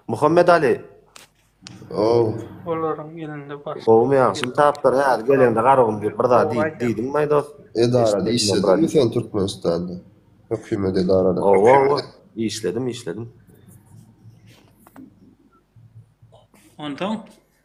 Muhammet Ali. Gowy. Olaryň elinde bar. Gowumy ýa? Şum tapdyr hä geleňde garagum diýip bir zat diýip diýdiň maý dos. Edarada işlediňmi sen Türkmenistanda? Hökümet edarada. Owo owo. Işledim işledim. Onsoň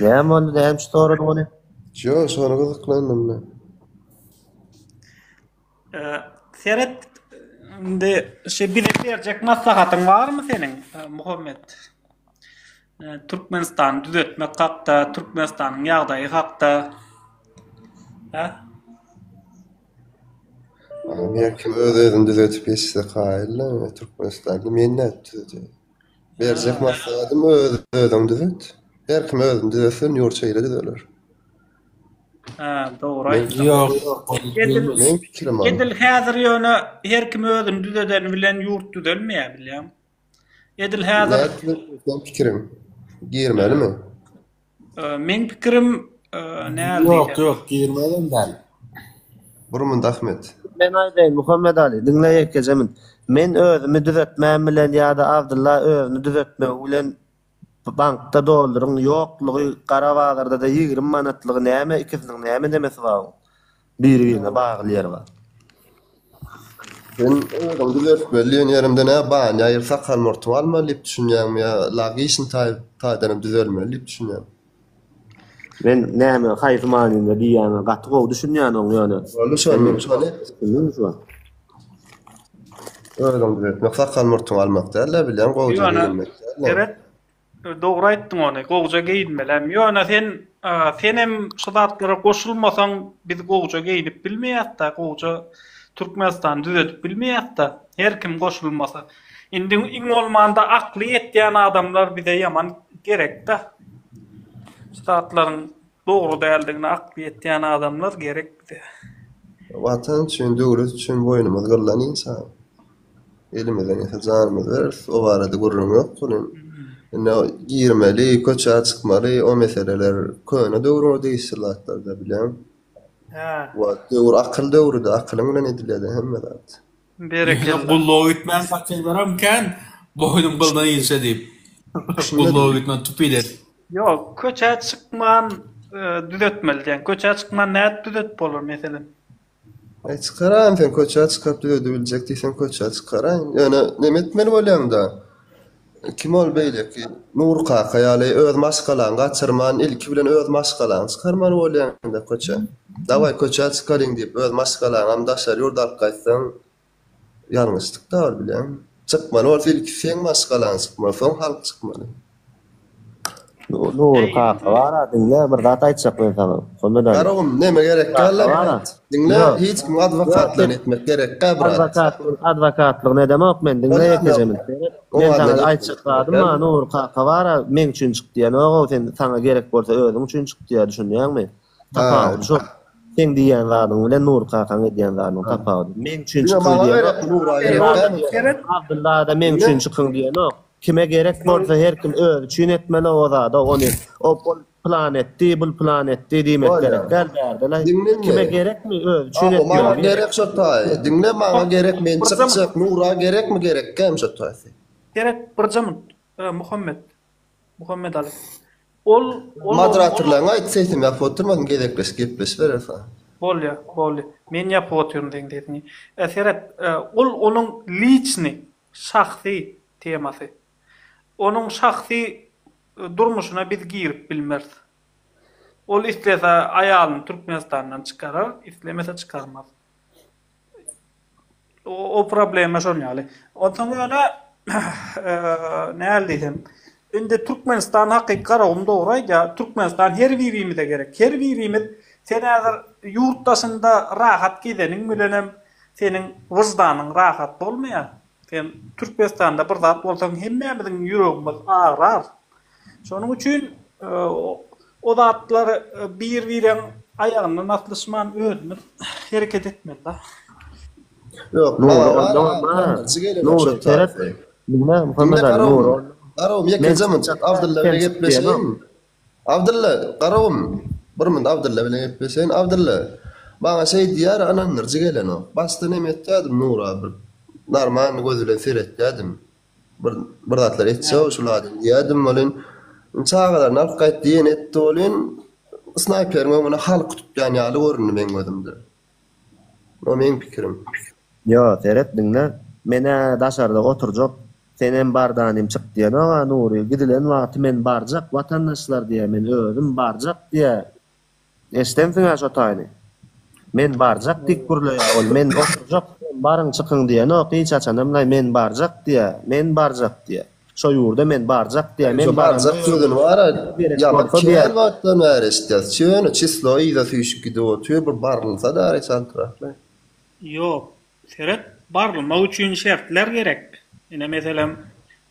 Näme boldy, näme üçin soradyň ony? Ýok, şona gyzyklandym men. Seret, indi şu bize berjek maslahatyň barmy seniň, Muhammet? Türkmenistany düzetmek hakda, Türkmenistanyň ýagdaýy hakda. Hä? Amerika öz-özüni düzetip geçse kaýylda, Türkmenistany men nädip düzedýän? Berjek maslahatym öz özüňi düzet. Her kim özüni düzetse ýurt şeýle düzeler. Hä, dogry aýtdyň. Ýok, Edil- Meň pikirim ol. Edil häzir ýöne her kim özüni düzedeni bilen ýurt düzelmeýär bilýäň. Edil häzir Nätdi sen pikiriň? Girmelimi? Meň pikirim näl diýýän. Ýok ýok girmezem däl. Bir munt Ahmet. Men aýdaýyn Muhammet Ali diňle ýekeje munt. Men özümi düzetmän bilen ýada Abdylla özüni düzetmegi bilen bankda dolduryň ýoklugy gara bazardada ýigrimi manatlygy näme ikisiniň näme demesi babuň. Biri birine bagly ýeri bar. Sen özüňi düzeltmeli diýen ýerimde nä banýa ýa sakal murtuňy almaly diýip düşünýäňmi ýa lagişn taý taýdanam düzelmeli diýip düşünýäňmi? Men näme haýsy manynda diýýäňe gaty gowy düşünýänoň ýöne. Boldy şony diň şony. Düşündiňmi şu wagt? Özüňi düzeltmek sakal murtuňy almak däl-de bilýän gowyja geýinmek däl-de. Seret. Dogry aýtdyň ony gowja geýinmelem. Ýöne sen senem şu zatlara goşulmasaň biz gowja geýinip bilmeýäsda, gowja Türkmenistany düzedip bilmeýäsda her kim goşulmasa. Indi iň bolmanda akly ýetýän adamlar bize ýaman gerekda. Şu zatlaryň dogry däldigine akly ýetýän adamlar gerek bize. Watan üçin döwlet üçin boýnumyz gyrlan insan. Elimize neyse canımız veririz. O barada gürrüň yok bunun. Indi girmeli, köçä çykmaly, o meseleler köne döwrüne degişli zatlar da bilen. Ha. Wa döwür akyl döwrüdi, akylyň bilen edilýärdi hemme zat. Berekella. Gulluğa gitmän saçaklarym kän boýnum gyldan ilşe diýip. Gulluğa gitmän tupiler. Ýok, köçä çykman e, düzetmeli diýen. Köçä çykman nädip düzetip bolar meselem? E çykaraýyn sen köçä çykaryp düzedibiljek diýseň köçä çykaraýyn. Ýöne näme etmeli bolýaňda? Kim ol beýleki? Nury kaka ýaly öz maşgalaňy gaçyrman ilki bilen öz maşgalaňy çykarmaly bolýaňda köçä. Dawaý köçä çykaryň diýip öz maşgalaňam daşary ýurda alyp gaýtsaň Ýalňyşlyk bar bileň. Çykmaly bolsa ilki seň maşgalaň çykmaly soň halk çykmaly. Dogry kaka bara diňle bir zat aýtjak men saňa. Hümmet aga. Garagum neme gerek galla brat. Diňle hiç kim adwokatlygyny etmek gerekgä brat. Adwokatlygyny adwokatlygyny edemok men diňle ýekejemin. Men saňa aýtjak zadym bar Nury kaka bara meň üçin çyk diýenogou sen saňa gerek bolsa özüň üçin çyk diýýär düşünýäňmi. Tapawudy şol. Seň diýýän zadyň bilen Nury kakaň edýän zadynyň tapawudy. Meň üçin çykyň diýenok. Abdylla-da meň üçin çykyň diýenok. Kime gerek bolsa her kim özi üçin etmeli o zady. Ony ol plan etdi, bul plan etdi diýmek gerek däl bärde-le. Kime gerekmi özi üçin etmeli. Maňa gerek şo taýy. Diňle maňa gerek men çykjak. Nura gerekmi gerekgem şo taýy. Seret birje munt. Öö Muhammet. Muhammedaly. Ol ol Moderatorlaryňa aýt sesiň ýapyk oturmasyn gezekleşip gepleşibereris a. Bolýa boldy. Men ýapyk otyryn seň sesiňi. Ä seret ol onuň liçny, şahsy, temasy. Onuň şahsy durmuşyna biz girip bilmeris. Ol islese aýalyny Türkmenistandan çykarar, islemese çykarmaz. O problema şol ýaly. Onsoň ýöne näl diýsem, indi Türkmenistan hakyky Garagum dogry aýdýar, Türkmenistan her birimize gerek. Her birimiz sen häzir ýurt daşynda rahat gezeniň bilenem seniň wyždanyň rahat bolmaýar. Sen Türkmenistanda bir zat bolsaň hemmämiziň ýüregimiz agrar. Şonuň üçin o zatlar bir bireň aýagyndan aslyşman özümiz hereket etmeli. Ýok Nury onda bolmaz. Nury seret. Diňle Muhammet aga Nury onda. Garowym ýekeje munçak Abdylla bilen gepleşeýin. Abdylla, garagum! Bir münt Abdylla bilen gepleşeýin. Abdylla, Maňa şeý diýýär, ynandyryjy gelenok. Başda näme etjädim, Nura bir narman göz bilen seretýädim. Bir, bir zatlar etse-ow şul adam diýýädim welin, indi çagalaryny alyp gaýt diýen etdi welin, snaýperiň öňüne haly tutýan ýaly göründi meň gözümde. Bu meň pikirim. Ýo, seret, diňle. Men-ä daşarda oturjak. Senem bardanym çyk diýenok-a, Nury. Gidilen wagty men barjak, watandaşlar diýýä, men özüm barjak diýýä. Eşidensiň-ä şo taýyny. Men barjak diýip gürleýär ol. Men oturjak, siz hem baryň, çykyň diýenok hiç haçanam-laý. Men barjak diýýä, men barjak diýýä. Şo ýurda men barjak diýýär. Men barjak sözüni bar-a, ýazyp kän wagtdan bäri eşitýäs. Çyny, çyslogy yza süýşüp gidip otyr, bir barylsa dary çaltrak-la. Ýok, seret, barylmak üçin şertler gerek. Ine, meselem,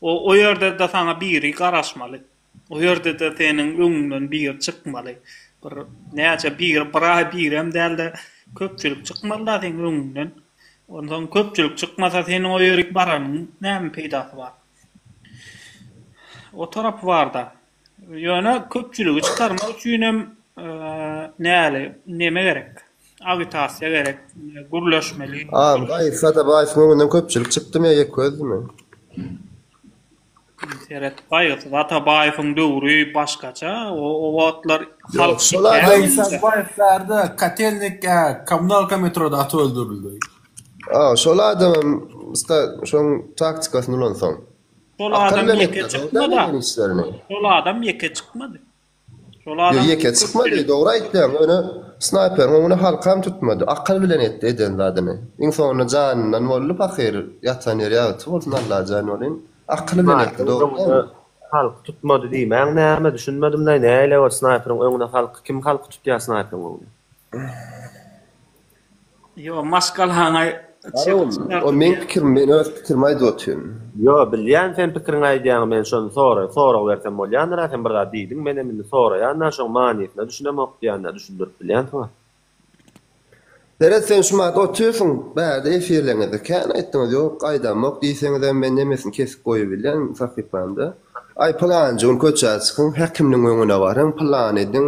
o ýerde-de saňa biri garaşmaly. O ýerde-de seniň öňüňden biri çykmaly. Bir näçe biri, bir aý birem däl-de, köpçülik çykmaly-da seniň öňüňden. Onsoň köpçülik çykmasa, seniň o ýerik baranyň näme peýdasy bar? O tarapy bar-da. Ýöne köpçüligi çykarmak üçinem näli, neme gerek? Agitasiýa gerek, gürleşmeli. Aýyl, gaýyl Sadabaýewiň öňünden köpçülik çykdymy ýa ýekgözdimi? Seret gaýgysyz Atabaýewiň döwri başgaça o wagtlar halk şikâýat Katelnik ýa kommunalka metroda atyp öldürildi. Şol adamam ussda şoň taktikasyny ulansaň. Şol adam ýeke çykmady. Şol adam ýeke çykmady. Ýeri ýeke çykmady, dogry aýtýaň, ýöne snaýperiň öňüne halkam tutmady, akyl bilen etdi eden zadyny. Iň soňunda janyndan boldy pahyr, ýatan ýeri ýagty bolsun Allajan welin, akyl bilen etdi, dogry däl. Halky tutmady diýmäň näme, düşünmedim-laý, nähili ol snaýperiň öňüne halky, kim halky tutýar snaýperiň öňüne? Ýo maşgalaňa çyk çykardyr. O meň pikirim men öz pikirimi aýdyp otyryn. Ýo bilýän sen pikiriňi aýdýaňy men şony soraýyn sorag bersem bolýandyra sen bir zat diýdiň menem indi soraýanda şoň manysyna düşünemok diýanda düşündirip bilýänsiňa. Seret sen şu mahaly otyrsyň bärde efirleriňizde kän aýtdyňyz ýok gaýdamok diýseňizem men nemesini kesip goýubilýän sahypamda aý pylanjy gün köçä çykyň häkimniň öňüne baryň pylan ediň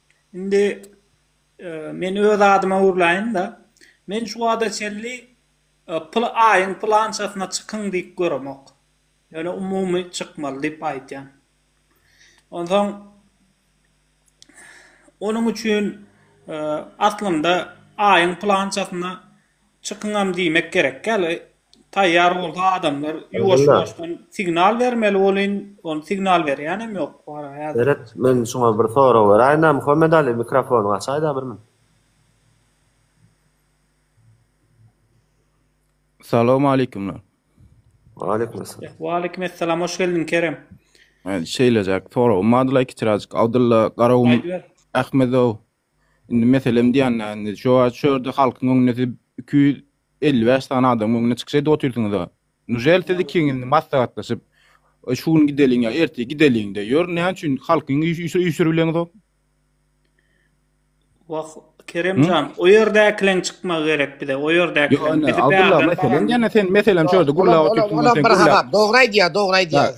Indi men öz adyma urlaýyn-da. Men şu wagta çenli pyl aýyň pylançasyna çykyň diýip göremok. Ýöne umumy çykmaly diýip aýdýan. Onsoň onuň üçin aslynda aýyň pylançasyna çykyňam diýmek gerek däl. Taýýar bolsa adamlar ýuwaş ýuwaşdan signal bermeli bolyn, ony signal berýänem ýok wara häzir. Seret men şuňa bir sorag beräýinä Muhammet Ali mikrofonyňy açaýda bir men. Salowmaleýkumlar. Waleýkumessalam. Waleýkumessalam hoş geldiň Kerem. Şeýlejek soragym bardyla kiçiräjik Abdylla Garagum Ahmedow Indi meselem diýenlerini şo çörde halkyň öňünde siz iki ýüz elli bäş sany adamyň öňünde çykyş edip otyrsyňyza. Nujel siz ikiňiz maslahatlaşyp şu gün gideliň ýa ertir gideliňde ýör näme üçin halkyň üýşürileňzok? Wah Kerem jan o ýerdäkileň çykmagy gerek bize o ýerdäkileň bizi bärden baran. Ýöne sen meselem şo ýerde gürläp otyrsyň. Olam bir hasap dogry aýdýar dogry aýdýar.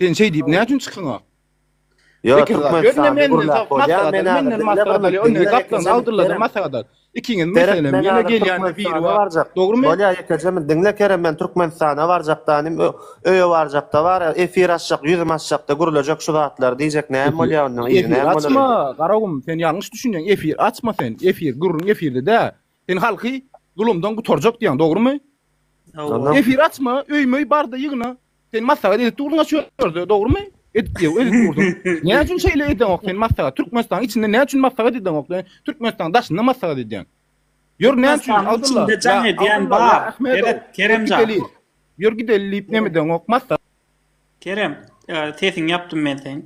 Sen şeý diýip näçün çykyňa? Ýok, Türkmenistan gürläp bolýar. Men menden maslahat alýar. Onda gaplan Abdulladan maslahat al. Ikiňiz meselem ýene gelýände biri barjak. Dogrumy? Bolýar, ýekejem. Diňle Kerem, men Türkmenistana barjakda inim, öýe barjakda bar, efir açjak, ýüzüm açjakda gürlejek şu zatlar diýjek. Näme bolýar onda? Efir açma, Garagum, sen ýalňyş düşünýäň. Efir açma sen. Efir, gürrüň efirde däl. Sen halky zulumdan gutarjak diýýäň, dogrumy? Hawa. Efir açma, öý-möý barda ýygna. Sen maslahat edip durdyň-a şu ýerde, dogrumy? Edip ýok, edip durdyň. Näme üçin şeýle edeňok sen maslahat? Türkmenistanyň içinde näme üçin maslahat edeňok? Türkmenistanyň daşynda maslahat edýäň. Ýör, näme üçin? Türkmenistanyň Abdylla, içinde jaň ýa edýän Abdylla, ýa bar. Ahmedow, Ýör Gerek, Keremjan. gideliň. Ýör gideliň diýip neme edeňok, maslahat. Kerem, e, sesiňi ýapdym men seň.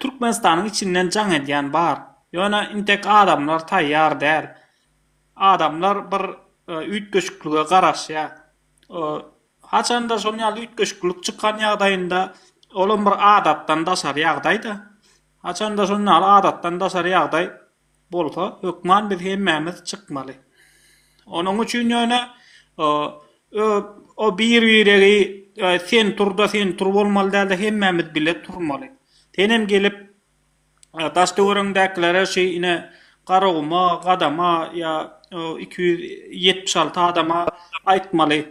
Türkmenistanyň içinden jaň edýän bar. Ýöne intek adamlar taýýar däl. Adamlar bir üýtgeşiklige garaşýar. Haçanda şol ýaly üýtgeşiklik çykan ýagdaýynda olam bir adatdan daşary ýagdaý-da. Haçanda şon ýaly adatdan daşary ýagdaý bolsa hökman biz hemmämiz çykmaly. Onuň üçin ýöne o bir biregi sen tur-da sen tur bolmaly däl-de hemmämiz bile turmaly. Senem gelip daş-töweregiňdäkilere şi ine Garaguma, Gadama ýa iki ýüz ýetmiş alty adama aýtmaly.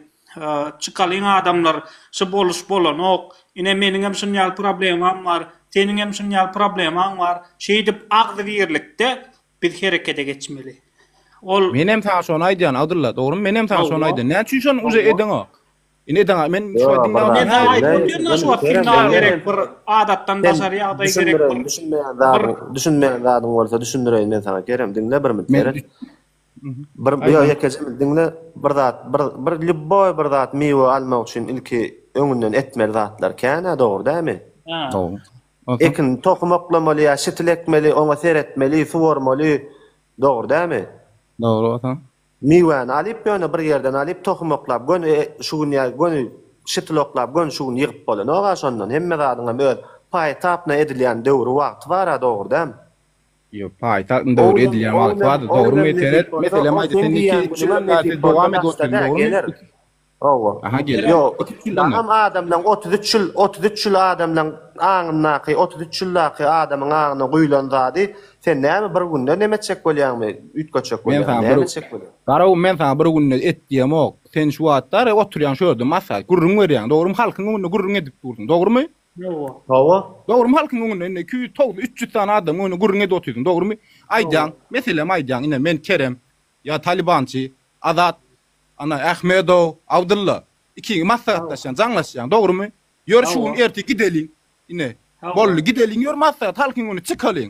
Çykalyň adamlar şy boluş bolanok ine meniňem şunýaly problemam bar seniňem şunýaly problemaň bar şeýdip agzybirlikde biz herekede geçmeli ol Menem saňa şony aýdýan Abdylla dogrymy menem saňa şony aýdýan näme üçin şony uje edeňok ine edeňok men şu wagt diňläp otyryn näme aýdyp otyryn şu wagt signal gerek bir adatdan daşary ýagdaý gerek düşünmeýän zadyň düşünmeýän zadyň bolsa düşündireýin men saňa Kerem diňle bir minut Kerem. Bir ýa ýekeje diňle bir zat bir bir lýubboý bir zat miwe almak üçin ilki öňünden etmeli zatlar kän-ä dogry dämi? Ekin tohum oklamaly ýa şitil ekmeli oňa seretmeli suwarmaly dogry dämi? Dogry ata. Miwäni alyp ýöne bir ýerden alyp tohum oklap göni şu gün ýa göni şitil oklap göni şu gün ýygyp bolanok-a şondan hemme zadyňam öz paýy tapyna edilýän döwri wagty bar-a dogry dämi? Ýok, paýtagtyň döwri edilýän wagty bardy, dogrymy? Seret, meselem, aýt, sen iki, üç ýyldan bäri sen dowam edip otyň, dogrymy? Hawa. Aha, geler. Ýok, iki, üç ýyldan bäri. Adam bilen otuz üç ýyl, otuz üç ýyl adam bilen aňyndaky, otuz üç ýyldaky adamyň aňyna guýlan zady sen näme bir günde nem etjek bolýaňmy, üýtgetjek bolýaňmy, näme etjek bolýaň? Garaw, men saňa bir günde et diýemok. Sen şu wagtlar oturýaň şu ýerde, maslahat, gürrüň berýäň, dogrymy? Halkyň öňünde gürrüň edip dursuň, dogrymy? Hawa. Hawa. Dogrymy halkyň öňünde indi iki ýüz toguz üç ýüz sany adamyň öňünde gürrüň edip otyrsyň dogrymy aýdýaň meselem aýdýaň ine men Kerem ýa Talibançy Azat ana Ahmedow Abdylla ikiňi maslahatlaşýaň jaňlaşýaň dogrymy ýör şu gün ertir gideliň ine boldy gideliň ýör maslahat halkyň öňüne çykalyň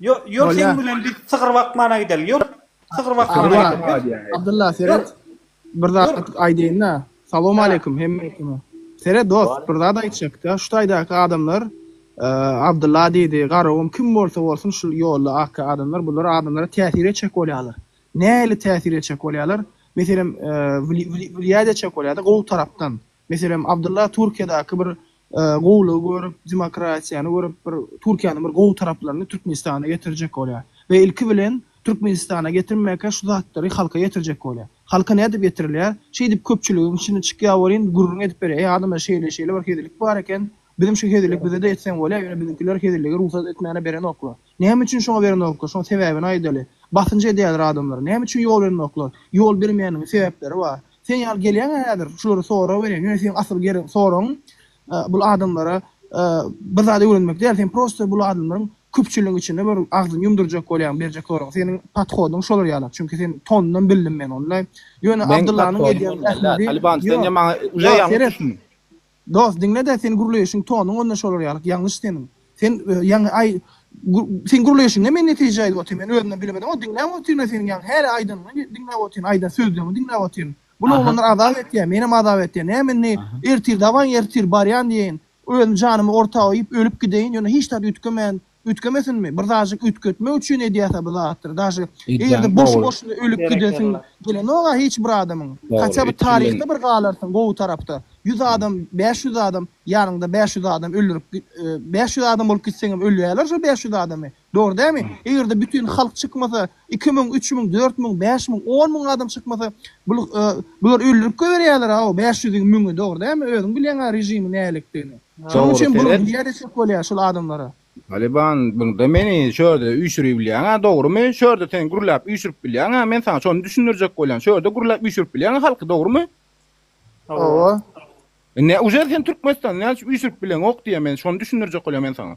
Ýör seň bilen biz sygyr bakmana gideli ýör sygyr bakmana gideli. Abdylla seret bir zat aýdaýynda salowmaleýkim hemmekiňe seret dos bir zat aýtjakda şu taýdaky adamlar Abdylla diýdi Garagum kim bolsa bolsun şu ýolda ak adamlar bular adamlara täsir etjek bolýarlar nähili täsir etjek bolýarlar meselem wlýaýat etjek bolýarda gowy tarapdan Meselem, Abdylla Türkiýedäki bir gowulygy görüp, demokratiýany görüp, bir Türkiýäniň bir gowy taraplaryny Türkmenistana getirjek bolýar we ilki bilen Türkmenistana getirmäkä şu zatlary halka getirjek bolýar. Halka nädip getirilýär? Şeýdip köpçüligiň içine çykýar welin, gürrüň edip berýär, Eý, adamlar, şeýle-şeýle bir hezillik bar eken. Bizem şu hezillik bize-de etseň bolýa, ýöne biziňkiler hezilligi rugsat etmäne berenoklar. Näme üçin şoňa berendoklar? Şoň sebäbini aýdaly. Basynç edýärler adamlara. Näme üçin ýol berendoklar? Ýol bermeýänleriň sebäpleri bar. Sen ýaly gelýäňä häzir şulary sora welin, ýöne seň asyl gerek soragyň bul adamlara bir zat öwrenmek däl, sen prosta bul adamlaryň köpçüligiň içinde bir agzyny ýumdurjak bolýaň berjek soragyň. Seniň podhodyň şolar ýalak. Çünki seniň tonundan bildim men onda. Ýöne Abdyllanyň edýän zähmedi ýok. Ýok seret. Dos diňledä sen gürleýşiň tonuň onda şolar ýalyk ýalňyş seniň sen ýaňy aý sen gürleýşiňe men netije aýdyp otyryn men özümden bilemedim o diňläp otyrynda seniň ýaňy häli aýdanyňy diňläp otyryn aýdan sözleňi diňläp otyryn bul oglanlar azap etýä menem azap etýä näme indi ertir dawaý ertir barýan diýeýin özüm janymy ortaga iýip ölüp gideýin ýöne hiç zat üýtgemän Üýtgemesinmi? Bir zajyk üýtgetmek üçin edýäsä bir zatdyr. Daşy eger-de boşy-boşuna ölüp gidesiň gelenok-a hiç bir adamyň. Haçan bir taryhda bir galarsyň gowy tarapda. Ýüz adam, bäş ýüz adam, ýanyňda bäş ýüz adam öldürip bäş ýüz adam bolup gitseňem ölýärler şol bäş ýüz adamy. Dogry dälmi? Eger-de bütin halk çykmasa, Iki müň, üç müň, dört müň, bäş müň, on müň adam çykmasa, bul, e, bular öldürip goýberýärler-aw, bäş ýüzüň, müňi, dogry dälmi? Özüň bilýäň-ä režimiň nälikdigini. Şonuň Dogry, üçin bular sebäp? diýýä desek bolýar şul adamlara. Taliban, bunda meni şu ýerde üýşüribilýäň-ä, dogrumy? Şu ýerde sen gürläp üýşürip bilýäň-ä, men saňa şony düşündirjek bolýan, şu ýerde gürläp üýşürip bilýäň-ä halky, dogrumy? Hawa. Indi uje sen Türkmenistanda näme üçin üýşürip bileňok diýýä, men şony düşündirjek bolýan men saňa.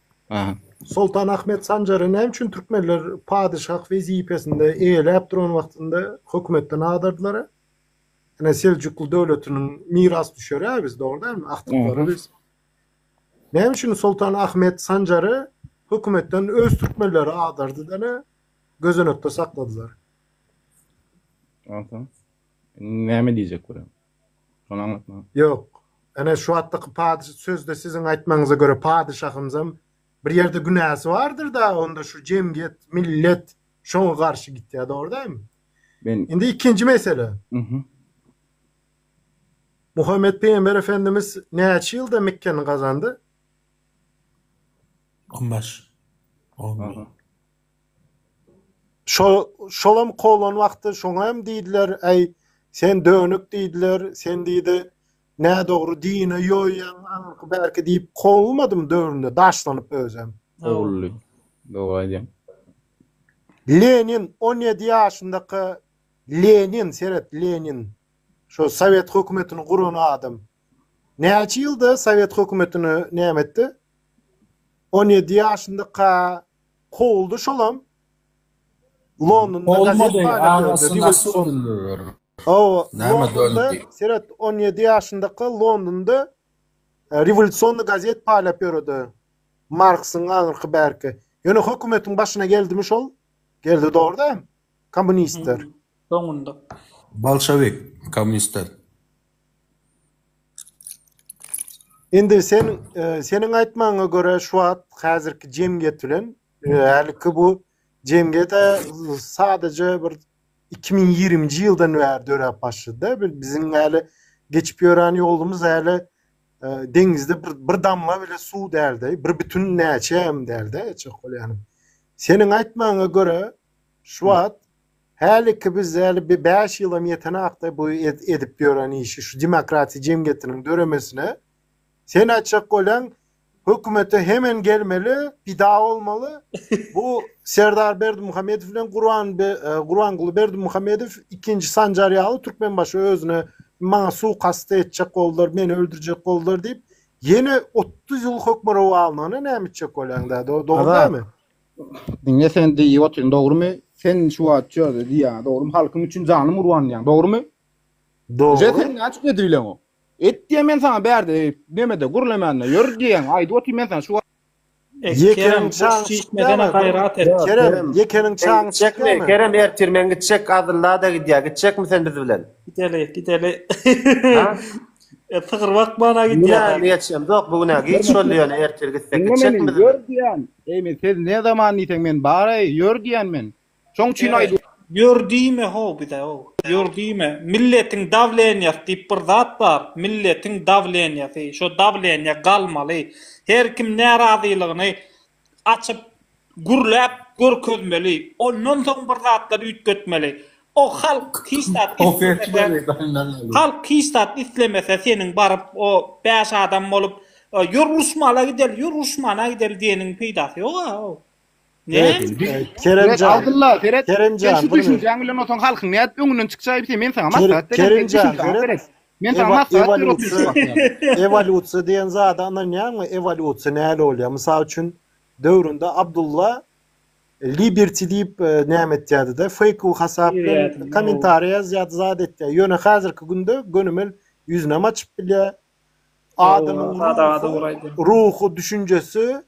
Soltan Ahmet Sanjary näme üçin türkmenler padyşah wezipesinde eýeläp duran wagtynda hökümetden adardylar-a? Ine, Seljukly döwletiniň mirasdüşeri-ä biz, dogry dälmi? Agtyklary biz. Näme üçin Soltan Ahmet Sanjary hökümetden öz türkmenleri adardy-da, gözenekde sakladylar? Onsoň näme diýjek bolýaň? Şony aňlatmaga. Ýok. Ene, şu atdaky padyş sözde siziň aýtmagyňyza görä padyşahymyzam bir ýerde günäsi bardyr-da, onda şu jemgyýet, millet şoňa garşy gitýär, dogry dämi? Men. Indi ikinji mesele. Uhuh. Muhammet pygamber efendimiz näçe ýylda Mekgeni gazandy? On bäş. On. Aha. Şolam kowlan wagty şoňa hem diýdiler, Äý, sen dönük diýdiler, sen diýdi, nädogry dini ýoýýaň, aňyrky bärki diýip kowulmadym döwründe daşlanyp özem. Kowuldy. Dogry aýdýaň. Lenin on ýedi ýaşyndaka Lenin seret Lenin şo sowet hökümetini guran adam näçe ýylda sowet hökümetini näme etdi on ýedi ýaşyndaka Kowuldy şolam Londonda gazet paýladyýardy rewolýusion. Hawa Londonda seret on ýedi ýaşyndaka Londonda rewolýusion gazet paýlap ýöredi. Marksyň aňyrky bärki. Ýöne hökümetiň başyna geldimi şol? Geldi dogruda kommunistler. Soňunda. Bolşewik kommunistler. Indi sen e, seniň aýtmagyňa görä şu wagt häzirki jemgyýet bilen e, häliki bu jemgyýet e, sadaja bir 2020-nji ýyldan bäri döräp başlady-da. Biziň häli geçip ýören ýolumyz häli e, deňizde bir, bir damla bile suw däldi, bir bütün näçe hem däldi, çak bolýany. Seniň aýtmagyňa görä, Şu wagt häliki biz häli bir bäş ýylam ýetenakda bu edip ýören işi şu demokratiýa jemgyýetiniň döremesine sen aýtjak bolýaň hökümete hemen gelmeli pida bolmaly bu Serdar Berdimuhamedow bilen Gurban Gurbanguly Berdimuhamedow ikinji Sanjar ýaly Türkmenbaşy özüne maňa suwkast etjek boldular meni öldürjek boldular diýip ýene otuz ýyl hökmürowanlygyna näme etjek bolýaň dogry dälmi? Diňe sen diýip otyryn dogrymy? Sen şu wagt şöyle diýýäňä dogrymy? Halkyň üçin janym urban diýýäň dogrymy? Dogry. Sen näçe edip bileň o? Et diýýän men saňa bärde nemede gürlemände ýör diýýäň aýdyp otyryn men saňa şu wagt. Ýekeniň çaňy çykýamy? Kerem ýekeniň çaňy çykýamy? Kerem ertir men gitjek Adyllada gidýär gitjekmi sen biz bilen? Gideli gideli. Sygyr bakmana gidýär. Ýöne geçemzok bu gün giç boldy ýöne ertir gitsek gitjekmi biz bilen? Ýör diýýän. Eý men siz ne zaman diýseň men bareý ýör diýýän men. Şoň üçin aýdýan. Ýör diýme how bize how. Ýör diýme. Milletiň dawleniýasy diýip bir zat bar. Milletiň dawleniýasy. Şo dawleniýa galmaly. Her kim närazylygyny açyp gürläp görkezmeli. Ondan soň bir zatlar üýtgetmeli. O halk hiç zat islemese halk hiç zat islemese seniň baryp o bäş adam bolup ýör uruşmala gideli ýör uruşmana gideli diýeniň peýdasy ýok a o Keremjan Abdylla seret sen şu düşünjäň bilen otuň halkyň nädip öňünden çykjaýy biteý men saňa maslahat berýän Keremjan seret men saňa maslahat berip oturşyň ewolýusiýa diýen zada ynanýaňmy ewolýusiýa näle bolýar mysal üçin döwründe Abdylla Liberty diýip e, näme etýärdi-de, fake hasap bilen kommentariý ýazýardy, zat etýär. Ýöne häzirki günde gönümel ýüzünem açyp bilýär. Adamyň ruhy, ruhy düşünjesi,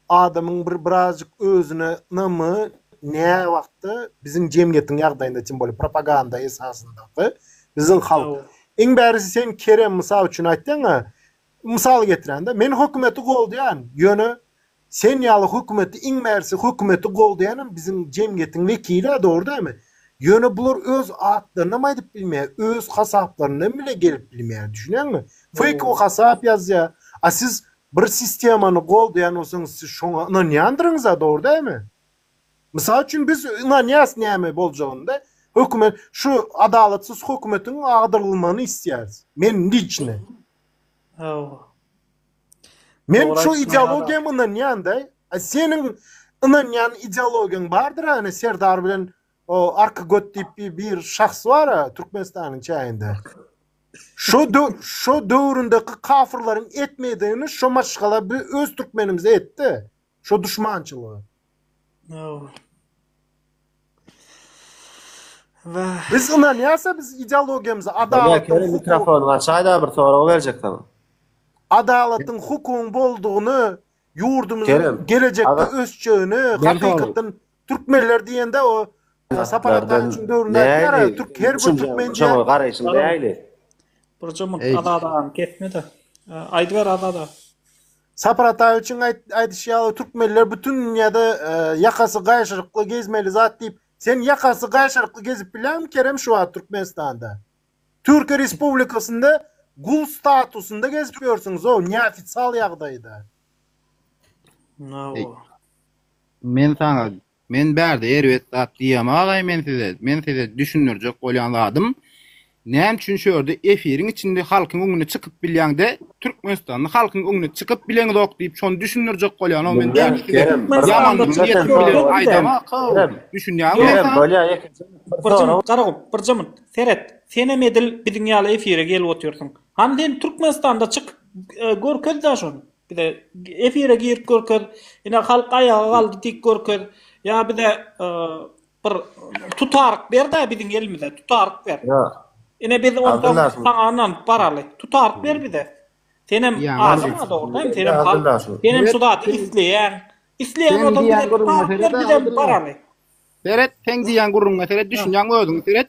adamyň bir birazjyk özüne ynamy ne wagtda biziň jemgyýetiň ýagdaýynda tim bolup propaganda esasynda we biziň halk. Iň bärisi sen Kerem mysal üçin aýtdyň-a, mysal getirende men hökümeti goldýan, ýöne Sen ýaly hökümeti iň bärsi hökümeti goldaýanam biziň jemgyýetiň wekilä dogry dämi? Ýöne bular öz atlarynam aýdyp bilmeýär öz hasaplaryndan bile gelip bilmeýär düşünýäňmi? Feýkowy hasap ýazýar a siz bir sistemany goldaýan bolsaňyz siz şoňa ynanýandyryňyza dogry dämi? Mysal üçin biz ynanýas näme boljagynda hökümet şu adalatsyz hökümetiň agdyrylmagyny isleýäris men liçny. Hawa. Men şu ideologiýa ynanýanda, seniň ynanýan ideologiýaň bardyr äne Serdar bilen o arka göt diýip bir şahs bar a Türkmenistanyň çäginde. Şu şu döwründeki kafirleriň etmeýdigini şu maşgala öz türkmenimize etdi. Şo duşmançylygy. Dogry. Wah. Biz ynanýarsa biz ideologiýamyza adalat. Şeýle mikrofony açaýda bir sorag berjek saňa. Adalatyň hukugyň boldugyny ýurdumyzyň gelejekde ösjegini hakykatdan türkmenler diýende o Sapar Ataň üçin döwründe ýarar türk her bir türkmen üçin garaýşym näli. Burjumyk adada kesmede. Aýdyber adada. Sapar Ataýewiçiň aýdyşy ýaly türkmenler bütün dünýäde ýakasy gaýşyrykly gezmeli zat diýip, sen ýakasy gaýşyrykly gezip bilýäňmi Kerem şu wagt Türkmenistanda? Türkiýe Respublikasynda gul statusynda gezip ýörsüňiz-ow neofitsial ýagdaýda. Nawa. Men saňa Men bärde erbet zat diýýämi agaý men size, men size düşündirjek bolýan zadym näme üçin şu ýerde efiriň içinde halkyň öňüne çykyp bilýäňde türkmenistanly halkyň öňüne çykyp bileňzok diýip şony düşündirjek bolýanok men näme üçin size ýamanlyk niýetim bilen aýdamakok düşünýäňmi men saňa. Bir jymmyt Garagum bir jymmyt seret senem edil biziň ýaly efire gelip otyrsyň hany sen türkmenistanda çyk görkezda şony. Bize efire girip görkez. Ine halk aýaga galdy diýip görkez. Ýa bize bir tutaryk ber-de biziň elimize tutaryk ber. Ine biz ondan saňa ynanyp baraly. Tutaryk ber bize. Senem aşyň-a dogrudan, senem halk. Senem şu zady isleýäň. Isleýän bolsaň bize tutaryk ber, bizem baraly. Seret, seň diýýän gürrüňiňe seret, düşünýäňmi özüňi seret.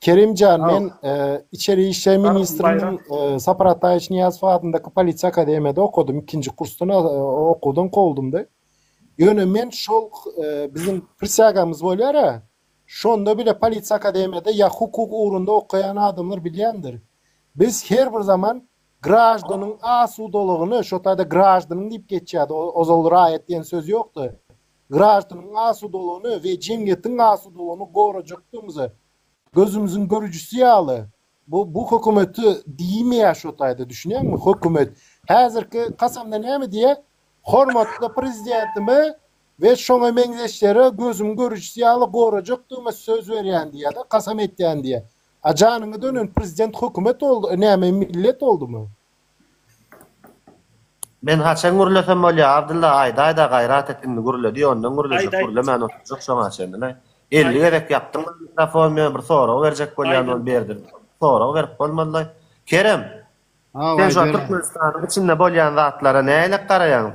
Kerim jan men içeri işler ministriniň Sapar Ataýewiç Niýazow adyndaky polisiýa akademiýada okadym ikinji kursdan okuwdan kowuldymda. Ýöne men şol biziň prisýagamyz bolýar a şonda bile polisiýa akademiýada ýa hukuk ugrunda okaýan adamlar bilýändir. Biz her bir zaman graždanyň asudalygyny şo taýda graždanyň diýip geçýärdi ozal raýat diýen söz ýokdy. graždanyň asudalygyny we jemgyýetiň asudalygyny gorajakdygymyzy gözümiziň görüjisi ýaly bu bu hökümeti diýmeýär şo taýda düşünýäňmi hökümet häzirki kasamda näme diýýä hormatly prezidentime we şoňa meňzeşlere gözümiň görüjisi ýaly gorajakdygyma söz berýän diýýäda kasam etýän diýýä a janyňa dönen prezident hökümet boldy näme millet boldumy Men haçan gürlesem bolýa Abdylla aýdaýda gaýrat et indi gürle diý ondan gürlejek gürlemän oturjak şoňa çenli laý elli gezek ýapdyň maňa mikrofony men bir sorag berjek bolýan ol berdim sorag berip bolmaz laý Kerem sen şo Türkmenistanyň içinde bolýan zatlara nähilek garaýaň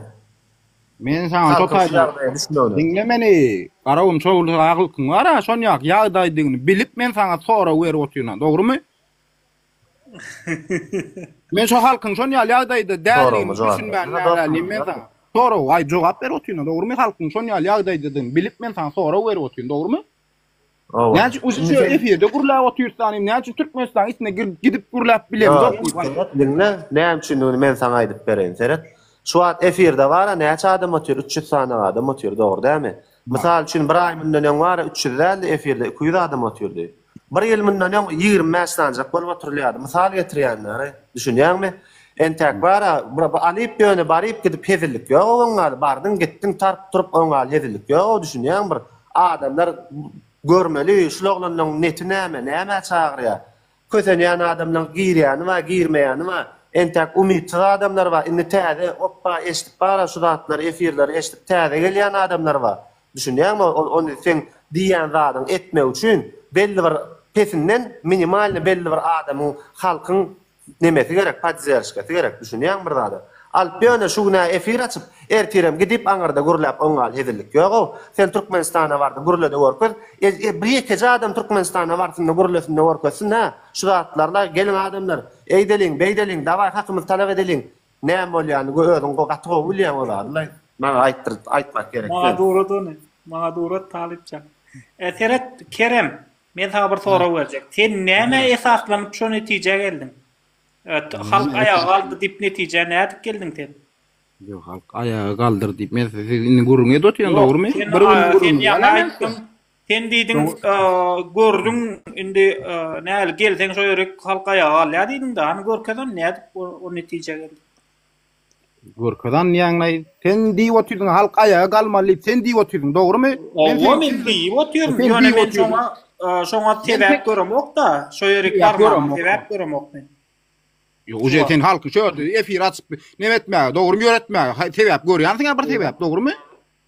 Men saňa şo taýdan diňle meni Garagum şo bir agylkyň bara şonýaky ýagdaýdygyny bilip men saňa sorag berip otyryn dogrymy. Men şo halkyň şon ýaly ýagdaýda däldigini düşünmän näzäliyim men saňa. Sorag, aý jogap berip otyryn, dogrumy? Halkyň şon ýaly ýagdaýdadygyny bilip men saňa sorag berip otyryn, dogrumy? Näme üçin uji şu efirde gürläp otyrsanym, näme üçin Türkmenistanyň içine girip gidip gürläp bilemzok diýip aýt. Diňle, näme üçindigini men saňa aýdyp bereýin, seret. Şu wagt efirde bar-a näçe adam otyr, üç ýüz sany adam otyr, dogry dälmi? Mysal üçin bir aý mundan öň bar-a üç ýüz däldi efirde iki ýüz adam otyrdy. Bir ýyl mundan öň ýigrimi bäş sanjak bolup oturylýardy. Mysal getirýänleri, düşünýäňmi? Entäk bar-a, bu Alyp ýöne baryp gidip hezillik ýog-ow oňňaly, bardyň gitdiň taryp turup oňňaly hezillik ýog-ow, düşünýäňmi bir adamlar görmeli, şul oglanyň neti näme, nämä çagyrýar. Kösenýän adamlaň girýäni bar, girmeýäni bar. Entäk umytsyz adamlar bar, indi täze, opba eşidip bar-a şu zatlary, efirleri eşidip täze gelýän adamlar bar. Düşünýäňmi? Ol ony seň diýýän zadyňy etmek üçin belli bir pesinden minimalny belli bir adamyň halkyň nemesi gerek podzerşkasy gerek düşünýäňmi bir zada alyp ýöne şu günä efir açyp ertirem gidip aňyrda gürläp oň ýaly hezillik ýogow sen türkmenistana bardy gürlede görkez e bir ýekeje adam türkmenistana barsynda gürlesinde görkezsin hä şu zatlarla geliň adamlar eýdeliň beýdeliň dawaý hakymyzy talap edeliň Näme bolýany go özüň go gaty gowy bilýäň o zadylaý maňa aýtdyryp aýtmak gerek däl. Maňa durat ony. Maňa durat Talypjan. E seret Kerem men saňa bir sorag berjek. Sen nämä esaslanyp şo netijä geldiň? Halk aýaga galdy dip netijä nädip geldiň sen? Ýok halk aýaga galdyr dip men siz indi gürrüňi edip otyran dogrymy? Bir gün gürrüňi. Sen ýaňy aýtdyň. Sen diýdiň, gördüň, indi näl gelseň şo ýeri halk aýaga galýar diýdiň-de, hany görkezen nädip o netijä geldiň? Görkezen diýýäňde, sen diýip otyrdyň, halk aýaga galmaly diýip, sen diýip otyrdyň, dogrumy? Hawa, men diýip otyryn, ýöne men şoňa, şoňa sebäp göremok-da, şo ýerik barmagyma sebäp göremok men. Ýok, uje sen halky şo ýerde efir açyp, nemetmäge, dogrumy ýöretmäge sebäp görýänsiň-ä bir sebäp, dogrumy?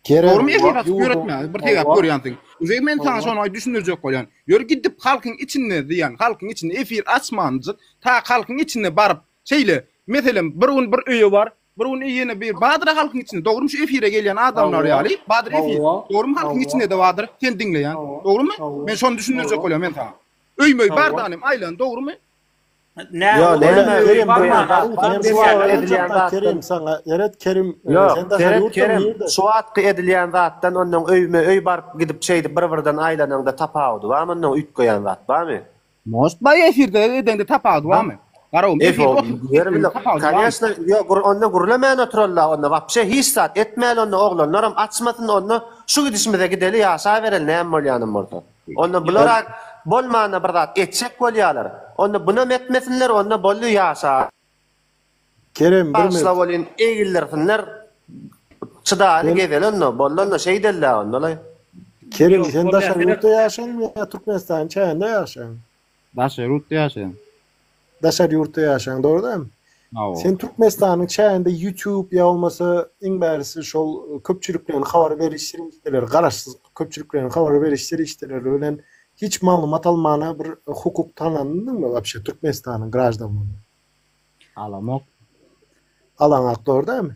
Kerem Dogrymy efir açyp ýurduň ýöretme bir tegäp howa görýän sen. Uzey men saňa howa şony düşündirjek bolýan. Ýöri gidip halkyň içinde diýen halkyň içinde efir açmanjyk ta halkyň içinde baryp şeýle meselem bir gün bir öýe bar bir gün ýene bir badyra halkyň içinde dogrymy şu efire gelýän adamlar howa ýaly badyr efir howa dogrymy halkyň howa içinde de badyr sen diňleýän howa dogrymy howa men şony düşündirjek howa bolýan men saňa öý möý bar howa danym aýlan dogrymy Ýa ol ýa Kerim barma Ýa şu wagt edilýän zat Kerim saňa Ýeret Kerim sen daşary ýurtda nirde şu wagtky edilýän zatdan onnoň öýme öý baryp gidip şeýdip bir birden aýlanaňda tapawudy barmy onnoň üýtgeýän zat barmy. Most baý efirde edeňde tapawudy barmy garowym efirde oturyp etmegiň tapawudy barmy. Kanyýaşna ýok onda gürlemän oturalla onda wapşe hiç zat etmäli onda oglanlaram açmasyn onda şu gidişimize gideli ýaşabereli näme bolýanam bolsa. Onda bulara bolmana bir zat etjek bolýalar. Onda bunam etmesinler onda boldy ýaşa. Kerem bir Bagyşla bolin egildirsinler. Çydali gezel onda boldy onda şeý dellä onda laý. Kerem sen daşary ýurtda ýaşaýaňmy ýa Türkmenistanyň çäginde ýaşaýaňmy? Daşary ýurtda ýaşaýan. Daşary ýurtda ýaşaýaň dogry dämi? Hawa. Sen Türkmenistanyň çäginde YouTube ýa bolmasa iň bärisi şol köpçülikleýin habar beriş serişdeleri garaşsyz köpçülikleýin habar beriş serişdeleri bilen hiç maglumat almana bir hukuk tanlandyňmy wapşe Türkmenistanyň graždanlygyny? Alamok. Alaňok dogry dämi?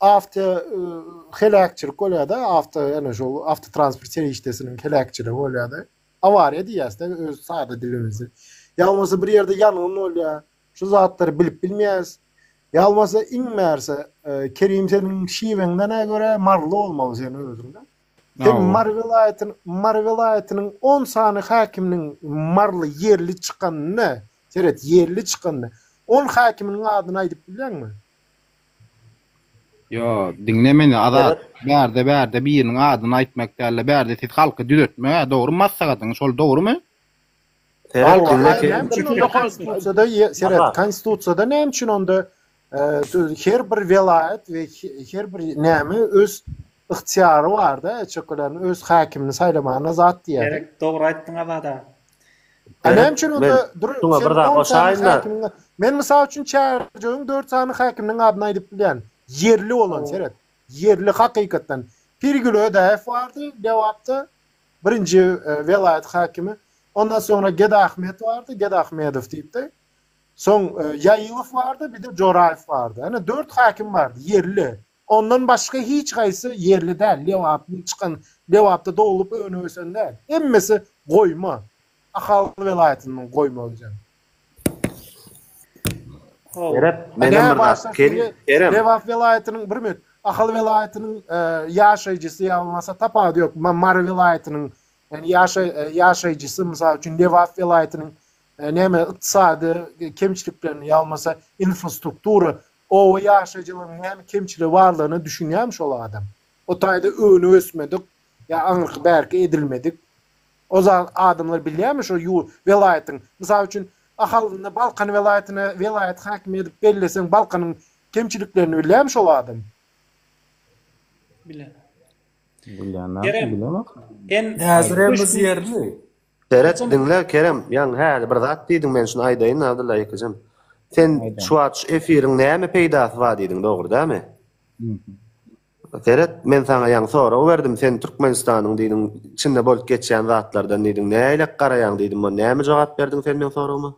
Awto heläkçilik bolýar-da, awto ýene şu awtotransport serişdesiniň heläkçiligi bolýar-da. Awariýa diýýäs-de öz sada dilimizde. Ýa bolmasa bir ýerde ýangyn bolýar. Şu zatlary bilip bilmeýäs. Ýa bolmasa iň bärse, Kerim seniň şiweňden-ä görä maryly bolmaly seniň özüň-de. Sen Mary welaýatynyň, Mary welaýatynyň on sany häkiminiň maryly ýerli çykanyny, seret, ýerli çykanyny, on häkiminiň adyny aýdyp bilýäňmi? Ýo, diňle meni, Azat. Bärde, bärde biriniň adyny aýtmak däl-de, bärde siz halky düzetmek-ä, dogrumy maslahatyňyz, şol dogrumy? Seret, diňle sen. Konstitusiýada seret, Konstitusiýada näme üçin onda her bir welaýat we her bir näme öz ygtyýary bar-da, öz häkimini saýlamagyna zat diýýär. Gerek, dogry aýtdyň Azat aga. A näme üçin onda dur sen on sany häkimiň men mysal üçin çärjewiň dört sany häkiminiň adyny aýdyp bilýän ýerli bolan seret ýerli hakykatdan Pirgül Ödäýew bardy Lebapda birinji e, welaýat häkimi ondan soňra Gedahmet bardy Gedahmedow diýipdi soň e, Ýaýylow bardy bir-de Joraýew bardy ýa-da dört häkim bardy ýerli Ondan başga hiç haýsy ýerli däl, Lebapdan çykan, Lebapda doglup önüp ösen däl. Hemmesi goýma. Ahal welaýatyndan goýma özem. Ýöräp, men hem bir zat pikirleyýin. Kerem. Lebap welaýatynyň, bir minut, Ahal welaýatynyň ýaşaýjysy ýa bolmasa tapawudy ýok. Mary welaýatynyň ýaşaýjysy, mysal üçin, Lebap welaýatynyň näme ykdysady kemçiliklerini ýa bolmasa infrastruktura Oba ýaşaýjylarynyň näme kemçiligi barlygyna düşünýärmi şol adam? O taýda öwünip ösmedik ýa aňyrky bärki edilmedik. O zat adamlar bilýärmi şo ýu welaýatyň? Mysal üçin, Ahalynda Balkan welaýatyny welaýat häkimi edip belleseň Balkanyň kemçiliklerini bilýärmi şol adam? Bilen. Bilýän näme? Bilemok. Häzirem biz ýerli. Seret, diňle, Kerem, ýaňy häli bir zat diýdiň, men şuny aýdaýyn, Abdylla ýekejem. Sen Aýdaň. şu wagt şu efiriň näme peýdasy bar diýdiň, dogry dälmi? Mhm. Seret, men saňa ýaňy sorag berdim, sen Türkmenistanyň diýdiň, içinde bolup geçýän zatlardan diýdiň, nälelik garaýaň diýdim, ony näme jogap berdiň sen meň soragyma?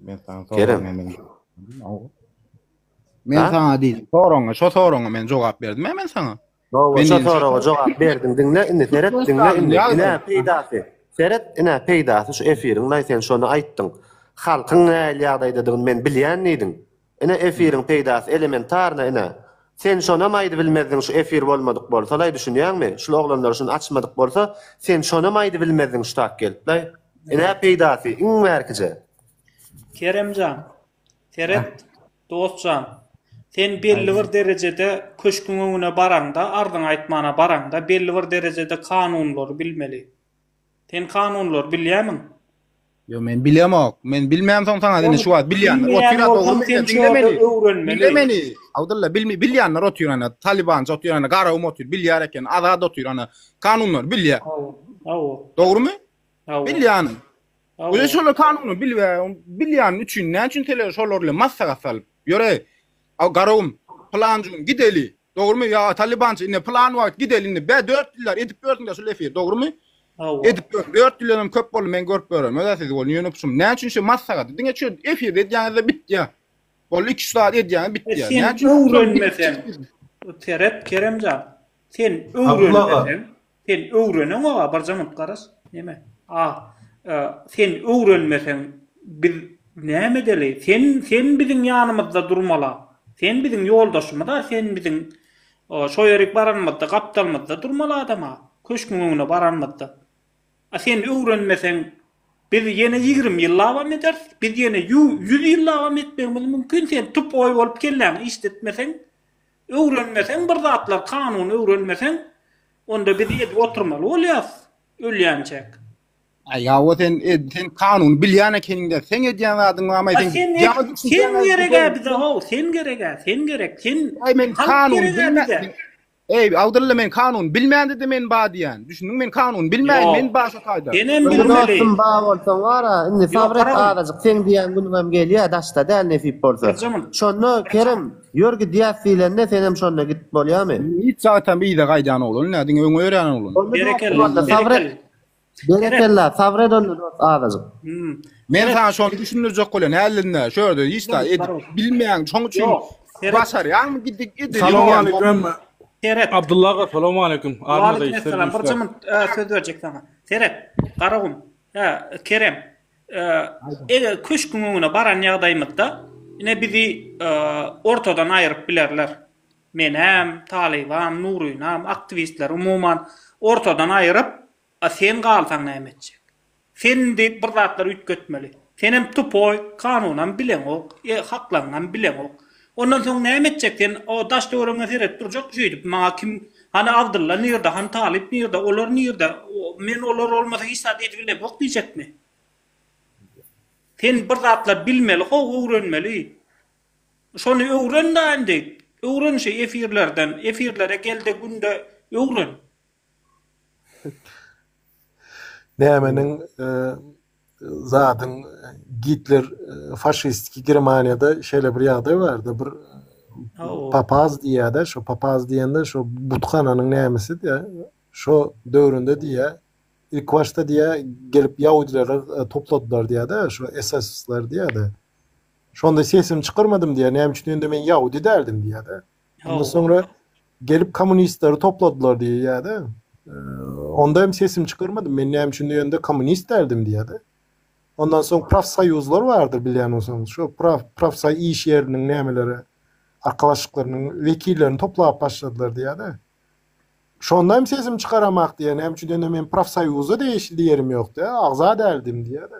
Men saňa sorag Kerem. näme diýdim? Aw. Men Ha? saňa diýdim, soragyňa, şo soragyňa men jogap berdim-ä men saňa. Gowy, şo soraga jogap berdiň. Diňle indi, seret, diňle indi. Ine peýdasy. Seret, ine peýdasy şu efiriň, laý sen şony aýtdyň. Halkyň nähili ýagdaýdadygyny men bilýän diýdiň. Ine efiriň peýdasy elementarna ine. Sen şonam aýdybilmezdiň şu efir bolmadyk bolsa laý düşünýäňmi? Şul oglanlar şuny açmadyk bolsa sen şonam aýdybilmezdiň şutak gelip laý. Ine peýdasy iň bärkije. Kerem jan, Seret, dost jan, sen belli bir derejede köşküň öňüne baraňda, arzyňy aýtmana baraňda, belli bir derejede kanunlary bilmeli. Sen kanunlary bilýämiň? Ýok, men bilýämok. Men bilmänsoň saňa indi şu wagt bilýän. Otur, dogry bilýän. Diňle meni. Diňle meni. Abdylla, bilmi, bilýänler otur ýana. Talibanja otur ýana, Garagum otur, bilýär eken. Azat otur ýana. Kanunlary bilýär. Hawa. Dogrymy? Hawa. Bilýän. Öýe şolar kanuny bilbe, bilýän üçin näme üçin sele şolar bilen maslahat salyp. Ýöre, a garawum, plan gün gideli. Dogrumy? Ýa Talibançy indi plan wagt gideli indi. Bä 4 ýyllar edip gördüň de şu lefir, dogrumy? Hawa. Edip gör. 4 ýyldan hem köp boldy, men görüp görem. Öze siz bolun ýöne puşum. Näme üçin şu maslahat? Diňe şu efir edýäňizde bitýä. Boldy 2 saat edýäňiz bitýä. E, sen öwrenmesen. Seret Keremjan. Sen öwrenmesen. Sen öwreneňoga birje munt garaz. Neme? A, e, sen öwrenmeseň biz näme edeli? Sen sen biziň ýanymyzda durmala. Sen biziň ýoldaşymyz-a, sen biziň e, şo ýerik baranymyzda gapdalymyzda durmaly adam-a, köşküň öňüne baranymyzda. A sen öwrenmeseň biz ýene ýigrimi ýyllabam ederis, biz ýene ýü ýüz ýyllabam etmegimiz mümkin, sen tup oý bolup kelläňi işletmeseň, Öwrenmeseň bir zatlar kanuny öwrenmeseň onda biz edip oturmaly bolýas ölýänçäk. Aý hawa sen ed sen kanuny bilýän ekeniňdä seň edýän zadyň bar maý sen sen geregä bize how sen geregä sen gerek sen aý men kanuny bilmän Eý, Abdylla men kanun bilmände-de men ba diýän. Düşündiň men kanun bilmäýin, men başa taýda. Senem bilmeli. Dostum ba bolsaň wara, indi sabret azajyk, sen diýen günüňem gelýä, daşda däl nesip bolsa. Şonda Kerem Ýör gidýäs diýlende senem şonda gidip bolýamy? Hiç wagtam yza gaýdan oglan däl, diňe öňe ýörýän oglan. Onda ýokdur walla, sabyr et. Berekella, sabyr et onda dost azajyk. Men saňa şony düşündirjek bolýan häzirinde, şu ýerde hiç zat edip bilmeýäň, şoň üçin başarýaňmy gidip edip. Salowmaleýkim. Seret. Abdylla aga salowmaleýkim. Waleýkim essalam. Bir jymy söz berjek saňa. Seret. Garagum. Hä, Kerem. Eger köşküň öňüne baran ýagdaýymyzda, ine, bizi ortadan aýryp bilerler. Menem, Talybam, Nurynam, aktiwistler, umuman, ortadan aýryp, A sen galsaň näme etjek? Sen indi bir zatlar üýtgetmeli. Senem tupoý, kanunam bileňok, haklaryňam bileňok. Ondan soň näme etjek sen o daş töweregiňe seredip durjak şeýdip maňa kim hany Abdylla nirde hany Talyp nirde olar nirde men olar bolmasa hiç zat edip bilemok diýjekmi sen bir zatlar bilmeli how öwrenmeli şony öwren da indi öwren şu efirlerden efirlere gelde günde öwren. Nämeniň, zadyň Gitler faşistiki Germaniýada şeýle bir ýagdaý bardy, bir papaz diýýär-de, şo papaz diýende şo buthananyň nämesi-de, şo döwründe diýýär, ilki başda diýýär, gelip ýahudileri topladylar diýýär-de, şo SS-ler diýýär-de. Şonda sesimi çykarmadym diýýär, näme üçin, ýöne men ýahudi däldim diýýär-de. Onda sonra gelip kommunistleri topladylar diye ya da ee, onda hem sesim çıkarmadım. Men ne için yönde kommunist derdim diye de. Ondan soň profsoýuzlar bardyr bilýän bolsaňyz. Şu prof profsoý iş ýeriniň nämeleri arkalaşyklarynyň wekillerini toplap başladylar diýýärdi. Şonda hem sesim çykaramak diýen, hem üçin men profsoýuza degişli ýerim ýokdy, agza däldim diýýärdi.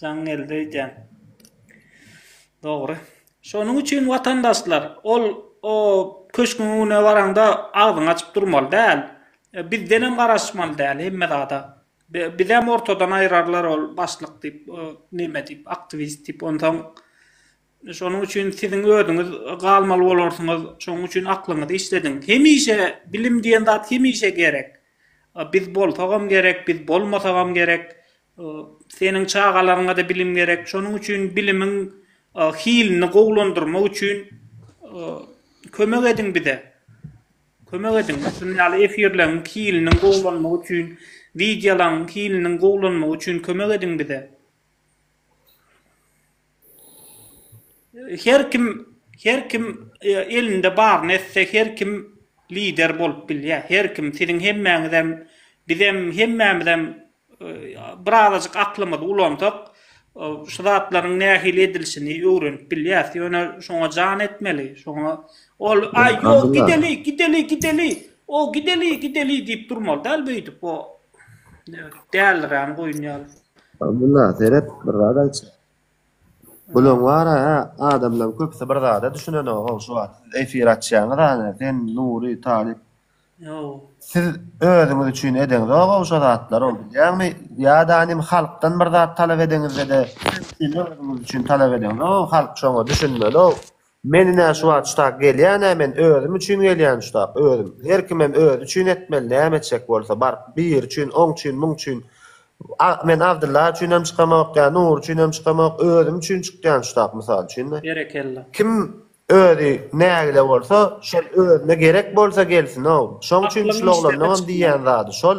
Jaň geldi öýdýän. Dogry. Şonuň üçin watandaşlar, ol o köşküň öňüne baraňda agzyňy açyp durmaly däl. Bizdenem garaşmaly däl hemme zada. Bizem ortadan aýrarlar ol başlyk diýip, neme diýip, aktiwist diýip, onsoň Şonuň üçin siziň özüňiz galmaly bolarsyňyz. Şonuň üçin aklyňyzy işlediň. Hemişe bilim diýen zat hemişe gerek. Biz bolsagam gerek, biz bolmasagam gerek. Seniň çagalaryňa-da bilim gerek. Şonuň üçin bilimiň hilini gowulandyrmak üçin kömek ediň bize. Kömek ediň. Şunuň ýaly efirleriň hiliniň gowulanmagy üçin, wideolaryň hiliniň gowulanmagy üçin kömek ediň bize. Her kim her kim elinde baryny etse her kim lider bolup bilýär. Her kim siziň hemmäňizem bizem hemmämizem birazajyk aklymyzy ulansak şu zatlaryň nähili edilişini öwrenip bilýäs. Ýöne şoňa jan etmeli. Şoňa ol aý ýok gideli gideli gideli o gideli gideli diýip durmaly däl beýdip o Däldir yani goýun ýaly. Abdullah seret bir zat aýtjak. Bulaň bar a adamlaň köpsi bir zada düşünenok how şu wagt siz efir açýaňyz a sen Nury Talyp Ýoo. Siz özüňiz üçin edeňzok how şo zatlary ol bilýäňmi ýada nim halkdan bir zat talap edeňizde de siz özüňiz üçin talap edeňzok how halk şoňa düşünmeli how Men ine şu wagt şutak gelýän-ä men özüm üçin gelýän şutak, özüm. Her kimem özi üçin etmeli näme etjek bolsa, baryp, biri üçin, oň üçin, muň üçin. A, men Abdylla üçinem çykamok, ýa Nury üçinem çykamok, özüm üçin çykýan şutak, mysal üçin-de. Berekella. Kim özi nägile bolsa, şol özüne gerek bolsa gelsin-ow. Şoň üçin şul oglanlaňam diýýän zady şol.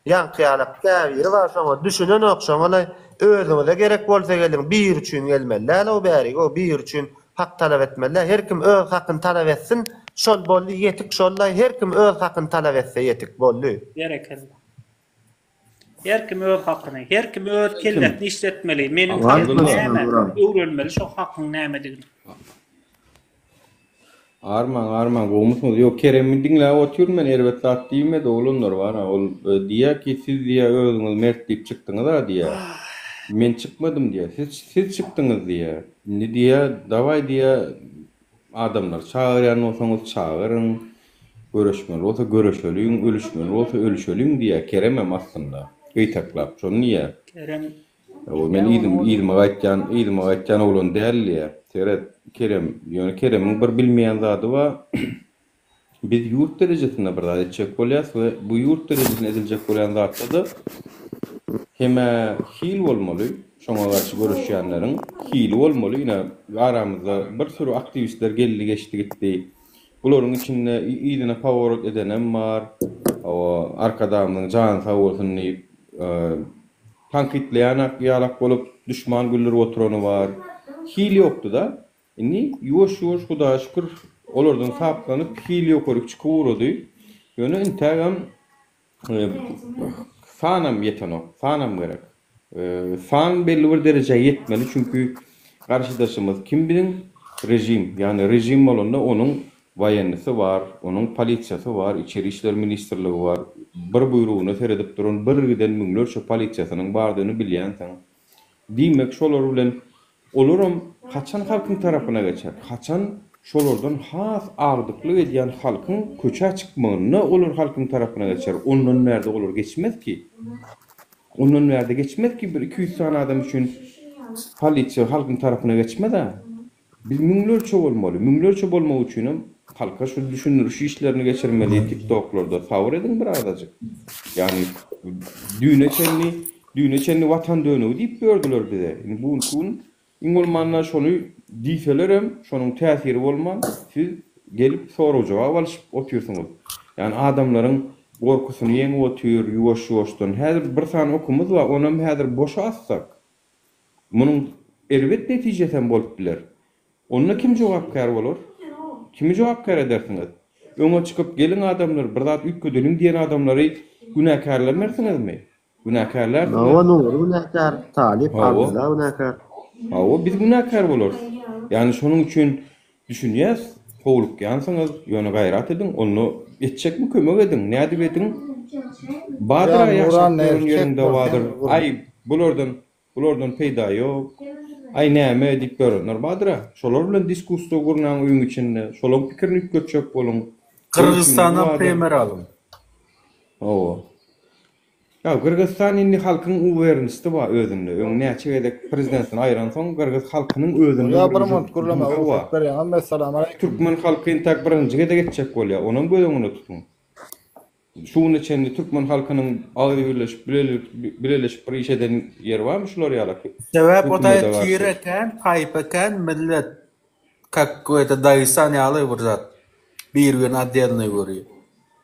Ýaňky ýala käbiri bar şoňa düşünenok şoňalaý özüňize gerek bolsa geliň biri üçin gelmeli däl o bäri go biri üçin hak talap etmeli däl her kim öz hakyny talap etsin şol boldy ýetik şollaý her kim öz hakyny talap etse ýetik boldy. Berekella. Her kim öz hakyny, her kim öz kellesini işletmeli, meniň hakym näme, öwrenmeli şo hakyň nämedigini. Arman arman gowmysyňyz ýok Keremi diňläp otyryn men erbet zat diýmedi oglanlar bana ol diýýär ki siz diýýär özüňiz mert diýip çykdyňyza diýýär men çykmadym diýýär siz siz çykdyňyz diýýär indi diýýär dawaý diýýär adamlary çagyrýan bolsaňyz çagyryň göreşmeli bolsa göreşeliň ölüşmeli bolsa ölüşeliň diýýär Keremem aslynda gyýtaklap şony diýýär Kerem Ol men yzymy yzyma gaýtýan yzyma gaýtýan oglan däl diýýär. Seret, Kerem, ýöne Keremiň bir bilmeýän zady bar. Biz ýurt derejesinde bir zat etjek bolýas we bu ýurt derejesinde ediljek bolýan zatda-da hemä hil bolmaly, şoňa garşy göreşýänleriň hili bolmaly. Ine, aramyzda bir süri aktiwistler geldi geçdi gitdi. Bularyň içinde yzyna poworot edenem bar. Hawa, Arkadagymyzyň jany sag bolsun diýip, Tankytlaýanak ýalak bolup duşman güldürip oturany bar. Hil ýokdy-da. Indi ýuwaş-ýuwaş Hudaýa şükür olardan saplanyp hil ýokaryk çykyp ugrady. Ýöne intägem sanam ýetenok. Sanam gerek. San belli bir derejä ýetmeli çünki garşydaşymyz kim biziň? Režim. Ýagny režim bolanda onuň Waýennisi bar, onuň polisiýasy bar, içeri işler ministrligi bar. Bir buýrugyna seredip duran birgiden müňlerçe polisiýasynyň bardygyny bilýänsiň. Diýmek, şolar bilen olaram haçan halkyň tarapyna geçer, haçan şolardan has agdyklyk edýän halkyň köçä çykmagynda olar halkyň tarapyna geçer, ondan bärde olar geçmez ki. Ondan bärde geçmez ki, bir iki ýüz sany adam üçin polisiýa halkyň tarapyna geçmez-ä. Biz müňlerçe bolmaly, müňlerçe bolmak üçinem halka şu düşündiriş işlerini geçirmeli tiktoklarda sabyr ediň bir azajyk. Ýagny düýne çenli, düýne çenli watan dönügi diýip ýördiler bize. Indi bu günki gün iň bolmanda şony diýselerem şonuň täsiri bolman siz gelip sorag jogap alyşyp otyrsyňyz. Ýagny adamlaryň gorkusyny ýeňip otyr ýuwaş ýuwaşdan. Häzir bir sany okumyz bar onam häzir boşa atsak. Munuň erbet netijesi hem bolup biler. Onda kim jogapkär bolar? Kimi jogapkär edersiňiz? Öňe çykyp, Geliň adamlar, bir zat üýtgedeliň diýen adamlary günäkärlemersiňizmi? Günäkärlärsiňiz. Hawa, Nuri günäkär, Talyp, Abdylla günäkär. Hawa, biz günäkär bolarys. Ýagny şonuň üçin Düşünýäs, howlukýansyňyz, ýöne gaýrat ediň, onda etjekmi kömek ediň, nädip ediň? Badyr-a ýaşap ýören ýeriň dawadyr, aý, bulardan, bulardan peýda ýok, aý, näme, diýip ýörenler badyr-a. Şolar bilen diskussiýa gurnaň öýüň içinde, şolaň pikirini üýtgetjek boluň. Gyrgyzystana peýmer alyň. Hawa. Ýa Gyrgyzystan indi halkyň uwerenisti bar özünde öň näçe gezek prezidentini aýyran soň Gyrgyz halkynyň özünde Gulja bir munt gürlemäge rugsat berýäň hem Essalamualeýkum. Türkmen halky intak birinji gezek etjek bolýa onam göz öňünde tutuň. Şu güne çenli türkmen halkynyň agzy birleşip bileleşip bir iş eden ýeri barmy şular ýala Sebäp o daýy tire kän taýpa kän millet kak bu ýerde Dagestan ýaly bir zat bir birini oddelnoý görýä.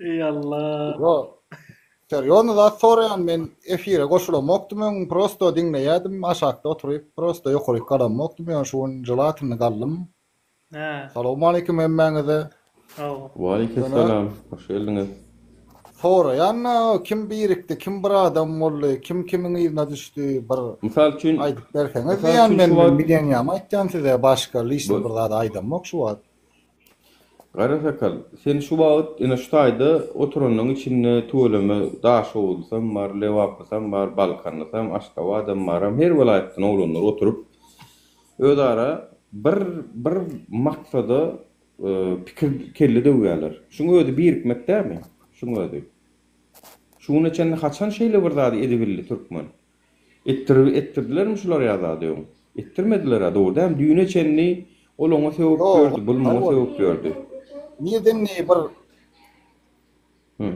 Ey Allah. Yo. Serýozny zat soraýan men efire goşulamokdym öň prosto diňleýädim aşakda oturyp prosto ýokaryk galamokdym ýöne şu gün jelatinli galdym. Hä. Salowmaleýkim hemmäňize. Saw. Waleýkimsalam, hoş geldiňiz. Soraýan kim birikdi kim bir adam boldy kim kimiň yzyna düşdi bir Mysal üçin aýdyp berseňiz diýýän men bilenýämi aýtýan size başga lişni bir zat aýdamok şu wagt. Gara sakal, sen şu wagt ene şu taýda oturanlaň içinde tüweleme daşoguzlysam bar, lebaplysam bar, balkanlysam, aşgabadam baram, her welaýatdan oglanlar oturyp, özara bir bir maksada pikir kelle döwýärler. Şuň özi birikmek dämi? Şuň özi. Şu güne çenli haçan şeýle bir zady edibildi türkmen? Etdirip etdirdilermi şular ýa zady öň? Etdirmediler-ä, dogry dämi? Düýne çenli ol oňa sögüp Ýok, ýördi, bul muňa ol. sögüp ýördi. Nireden neý bir Hü.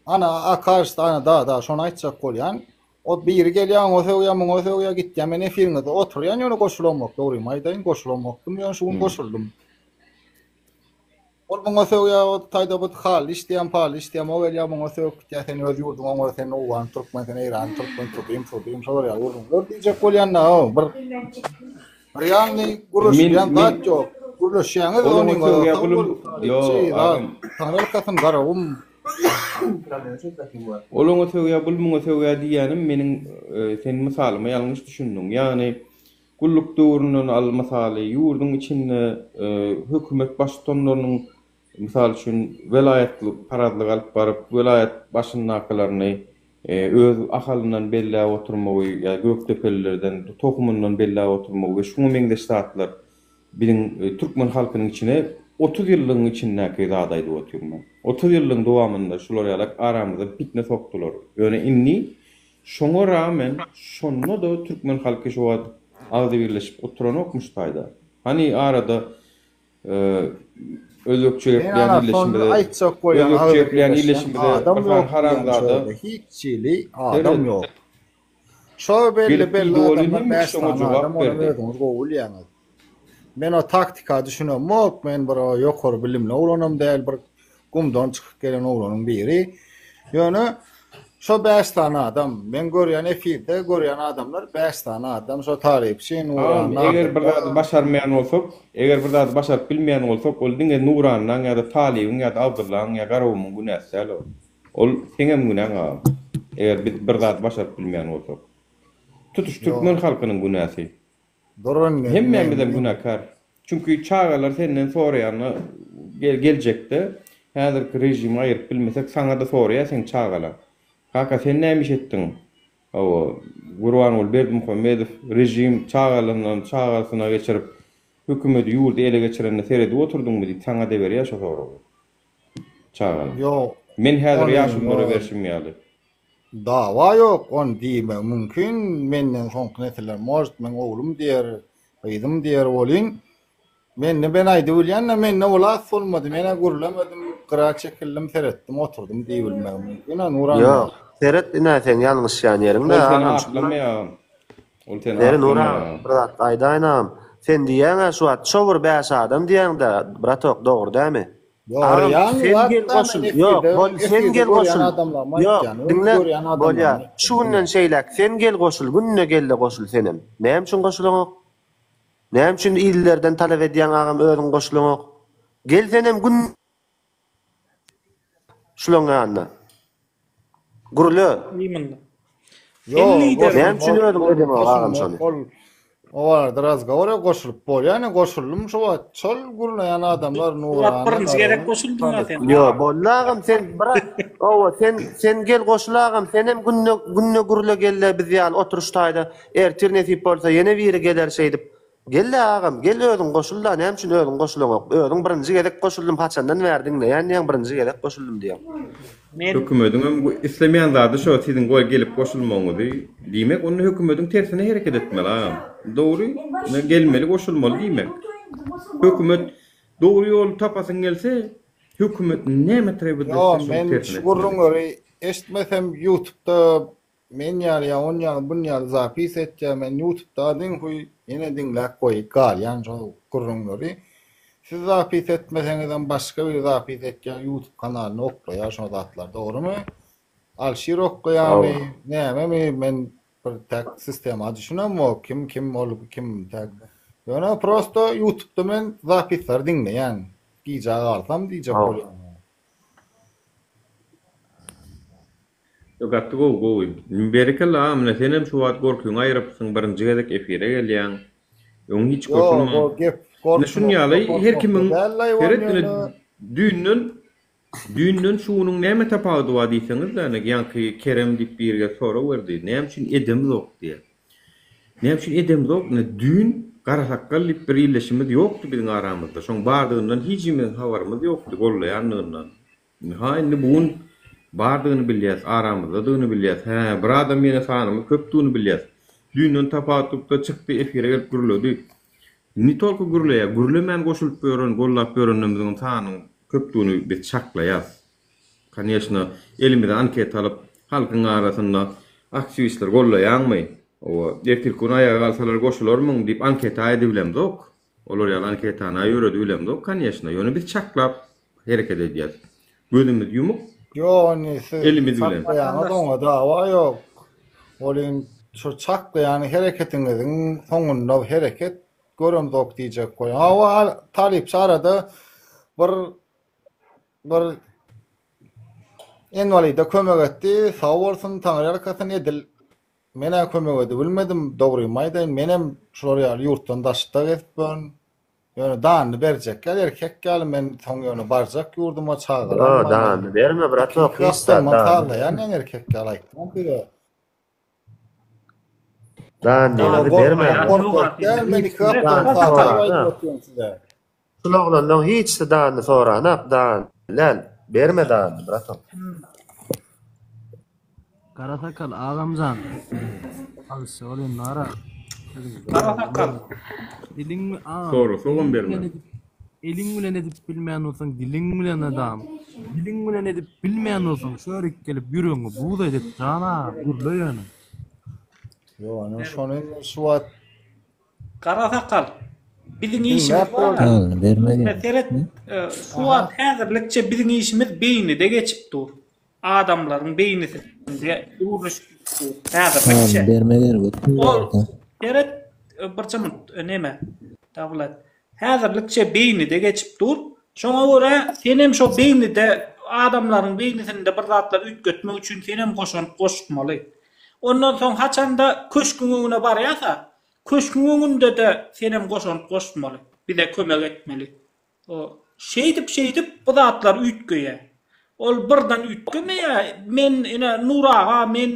Ana, Akaş sana da-da şony aýtjak bolýan. Ot biri gelýär, oňa sögýär, muňa sögýär, gitýär. Men efiriňizde oturýan, ýöne goşulamok. Dogrymy aýdaýyn, goşulamokdym, ýöne şu gün Hü. goşuldym. Ol muňa sögýä ot taýda but hal işdýäm pal işdýäm o gelýä muňa sögüp gitýä sen öz ýurduň oňar sen owgan türkmen sen eýran türkmen türdüm türdüm şo bolýa ýurduň ör diýjek bolýanda o bir bir ýanly gürleşýän zat ýok gürleşýäňiz ony sögýä gulum ýo agam taňrylyk etsin garagum ol oňa sögýä bul muňa sögýä diýýänim meniň sen mysalyma ýalňyş düşündiň ýagny Gulluk döwründen al mysaly, ýurduň içinde hökümet baştutanlarynyň, mysal üçin, welaýatlyk parazlyk alyp baryp, welaýat başyndakylaryny öz Ahalyndan belläp oturmagy ýa Gökdepelilerden, tohumyndan belläp oturmagy we şuňa meňzeş zatlar biziň türkmen halkynyň içine otuz ýyllygyň içindäki zady aýdyp otyryn men. Otuz ýyllygyň dowamynda şular ýaly aramyza pitne sokdular. Ýöne indi. Şoňa ragmen, şonda-da türkmen halky şu wagt agzybirleşip oturanokmyş taýda. Hany arada özbekçe gepleýän illeşimize, özbekçe gepleýän illeşimize bir sany haramzada. Hiçhili adam ýok. Şo belli-belli adamlar bäş sany adam, olam özüňiz gowy bilýäňiz. Men o taktika düşünemok men bir o ýokary bilimli oglanam däl bir gumdan çykyp gelen oglanyň biri ýöne şo bäş sany adam men görýän efirde görýän adamlar bäş sany adam şo tarypçy nuran nadym eger bir zady başarmaýan bolsak eger bir zady başaryp bilmeýän bolsak ol diňe nuranynyň ýa-da talybyň ýa-da abdyllaň ýa garowymyň günäsi däl ol ol seňem günäň agam eger biz bir zady başaryp bilmeýän bolsak tutuş türkmen halkynyň günäsi. Duran gelin Hemmämizem gelin. günäkär. Çünki çagalar senden soraýanda gel geljekde häzirki režimi aýyryp bilmesek saňa-da soraýar seň çagalar. Kaka sen näme iş etdiň? Hawa, Gurbanguly Berdimuhamedow režim çagalyndan çagasyna geçirip hökümedi ýurdy ele geçirende seredip oturdyňmy diýip saňa-da berýär şo soragy. Çagalar. Ýok. Men häzirki Ony ýaşululara ýok. berşim ýaly. Dawa ýok, ony diýmegi mümkin, menden soňky nesiller может meň oglum diýer, gyzym diýer welin, mende men aýdyp bilýän-de, mende ol at bolmady, men-ä gürlemedim, gyra çekildim, seretdim, oturdym diýibilmegi mümkin-ä, Nuran aga. Ýok, seret ine, seň ýalňyşýan ýeriň-de, agam. Ol seni aklamaýar, agam. Ol seni aklamaýar. Beri, Nuran aga, bir zat aýdaýyn, agam. Sen diýýäň-ä şu wagt, Ço bir bäş adam diýýäň-dä, bratok, dogry dämi? Ýory ýaňy wagtda men efirde görýän adamlarymy aýtýan öňki görýän adamlarymy. Şu günden şeýläk sen gel goşul günde gelle goşul senem. Näme üçin goşulaňok? Näme üçin illerden talap edýäň agam özüň goşulaňok? Gel senem günde şulaň ýanyna. Gürle. Iýmindi. Sen Ýok, lider. goşulyp Näme üçin bol- özüň bol- edemok goşulyp agam bol- şony? bol. O barada razgowora goşulyp bol. Ýa ne goşuldym şu wagt. Şol gürleýän adamlar Ulan Nurana. birinji gerek Naran, goşuldyň ha sen. Ýo, boldy agam sen biraz owa sen sen gel goşul agam sen hem günde günde gürle gelle biz ýaly oturyş taýda ertir nesip bolsa ýene biri geler şeýdip Gelle agam gel özüň goşulda näme üçin özüň goşulaňok özüň birinji gezek goşuldym haçandan bäri diňleýän diýäň birinji gezek goşuldym diýäň. Hökümediňem islemeýän zady şo siziň goý gelip goşulmagyňyzy diýmek onda hökümediň tersine hereket etmeli agam dogry gelmeli goşulmaly diýmek hökümet dogry ýoly tapasyň gelse hökümet näme trewet etse şoň tersine etmeli. Ýo men şu gürrüňleri eşitmesem ýutubda Men ýaly ýa on ýaly bun ýaly zapis etýä men ýutubda adyn huý ýene diňläp goýup galýan şol gürrüňleri siz zapis etmeseňizem başga biri zapis etýä ýutub kanalyny oklaýa şo zatlar dogrymy Alşir oklaýamy nämemi men bir tak sistema düşünemok kim kim ol kim tak ýöne prosto ýutubda men zapisleri diňleýän gijä galsam diýjek bolýan. Gaty gowy gowy. Berekella aga mine senem şu wagt gorkyňy aýyrypsyň birinji gezek efire gelýäň. Öň hiç gorkynmaň. Ýok gep gorkmak. Ine şunuň ýaly her kimiň seret ine düýnden düýnden şu günüň näme tapawudy bar diýseňizde ine ýaňky Kerem diýip biri gelip sorag berdi näme üçin edemizok diýe. Näme üçin edemizok ine düýn Garasakgal diýip bir illeşimiz ýokdy biziň aramyzda şoň bardygyndan hijimiziň habarymyz ýokdy gollaýandygyndan. Ynha, indi bu gün bardygyny bilýäs, aramyzdadygyny bilýäs. Hä, bir adam ýene sanymyz köpdügini bilýäs. Düýnden tapawutlykda çykdy, efire gelip gürledi. Ne tolku gürleýär, gürlemän goşulyp ýören, gollap ýörenlerimiziňem sanynyň köpdügini biz çaklaýas. Koneçna, elimize anketa alyp, halkyň arasynda aktiwistleri gollaýaňmy? Hawa, ertirki gün aýaga galsalar goşularmyň? diýip anketa edibilemzok. Olar ýaly anketany ýöredip bilemzok konýeşno, ýöne biz çaklap hereket edýäs. Gözümiz ýumuk. Ýok indi siz elimiz bilen. Çaklaýaňyz oňa dawa ýok. Ol in şo çaklaýan hereketiňiziň soňunda hereket göremzok diýjek bolýan. Hawa talypçy arada bir bir enwalida kömek etdi. Sag bolsun, taňryýalkasyn edil. Men-ä kömek edibilmedim, dogrymy aýdaýyn, menem şular ýaly ýurtdan daşda gezip ýörün. Ýöne danyny berjekler, erkek ýaly men soň ýöne barjak ýurduma, çagalarym bar. Ýok, danyny berme, bratok, hiç zat, danyny. Sazlaýan ýaňy erkek ýaly aýtdyňyz siz-ä. Danyny berme. Gorkak däl, men iki gatlaryny sazlap aýdyp otyrdym size. Şul oglandan hiçsi danyny soranok dan lel berme danyny bratom. Gara sakal agamjan alysja ol indi ara. Gara sakal. Diliň agam. Soru sogam berme. Eliň bilen edip bilmän bolsaň diliň bilen adam. Diliň bilen edip bilmän bolsaň şörik gelip ýüregiňi buz edip jana gürle ýöne. Ýok ony şony şu wagt Gara sakal. Biziň işimiz bar. Seret, Suwat häzirlikçe biziň işimiz beýnide geçip dur. Adamlaryň beýnisinde gürleşip dur. Häzirlikçe. Ol, Seret, birje munt, näme? Dawlat. Häzirlikçe beýnide geçip dur. Şoňa görä, senem şo beýnide, adamlaryň beýnisinde bir zatlar üýtgetmek üçin senem goşant goşmaly. Ondan soň haçanda köşküň öňüne barýasa, köşküň öňünde-de senem goşant goşmaly, bize kömek etmeli. O, şeýdip-şeýdip bu zatlar üýtgeýär. Ol birden üýtgemeýär. Men, ine, Nur aga, men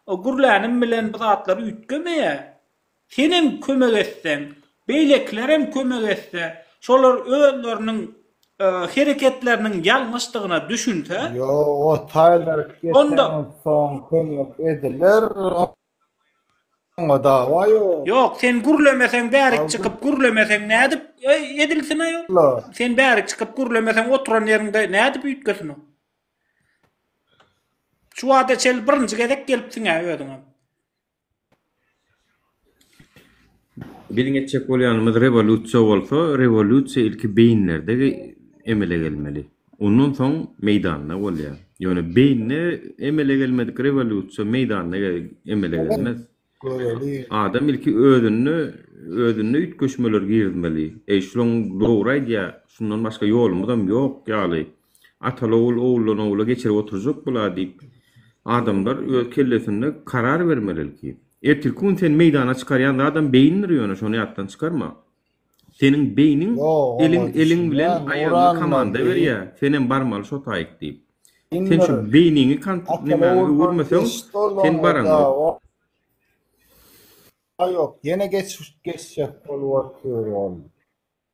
gürlänim bilen bu zatlar üýtgemeýär. Senem kömek etseň, beýlekilerem kömek etse, şolar özleriniň hereketleriniň ýalňyşdygyna düşünse. Ýok, o taýlar geçenden soň kömek ediler, oňa dawa ýok. Ýok, sen gürlemeseň, bärik çykyp gürlemeseň nädip edilsin aýol? Sen bärik çykyp gürlemeseň, oturan ýeriňde nädip üýtgesin o? Şu wagta çenli birinji gezek gelipsiň-ä özüňem. Biziň etjek bolýanymyz rewolýusiýa bolsa, rewolýusiýa ilki beýinlerde emele gelmeli. Ondan soň meýdanda bolýar. Ýöne beýinde emele gelmedik rewolýusiýa meýdanda emele gelmez. Adam ilki özünde, özünde üýtgeşmeleri girizmeli. Eý, şunuň dogry aýdýar, şundan başga ýolumyzam ýok ýaly. Ataly-ogul oguldan-ogula geçirip oturjak bula diýip, adamlar öz kellesinde karar bermeli ilki. Ertirki gün sen meýdana çykarýan zadam beýindir ýöne şony ýatdan çykarma. Seniň beýniň eliň eliň bilen aýagyňa komanda berýä, senem barmaly şo taýyk diýip. Sen şu beýniňi kant nämäňi öwürmeseň, sen baraňok. Ýok, ýene geçjek bolup otyr ol.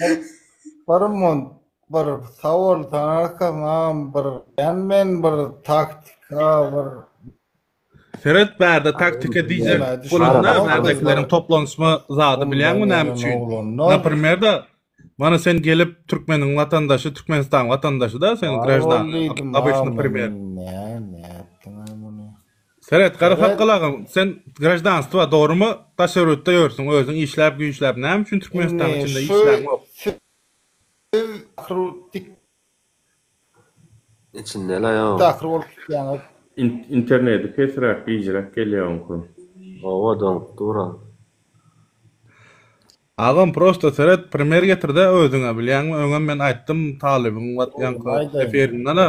Bir mon bir sawol tanaka mam bir ýan men bir taktika bir Seret bärde taktika diýjek bolanda bärdekileriň toplanşma zady bilýäňmi näme üçin? Naprimer da mana sen gelip türkmeniň watandaşy türkmenistan watandaşyda sen graždan obyçny primer. Seret, gara sakgal agam, sen graždanstwa, dogrymy, daş ýörgütde ýörsüň, özüň işläp-güýçläp, näme üçin Türkmenistanyň içinde işläňok? Siz ahyry tik. Içindel aýo. Tahyr bolup gitýäňiz. Interneti pesräk gijräk gelýä oňky. Owa doňup dura. Agam prosta seret primer getirdä özüňe bilýäňmi öňem men aýtdym talybyň watýanka efirinden-a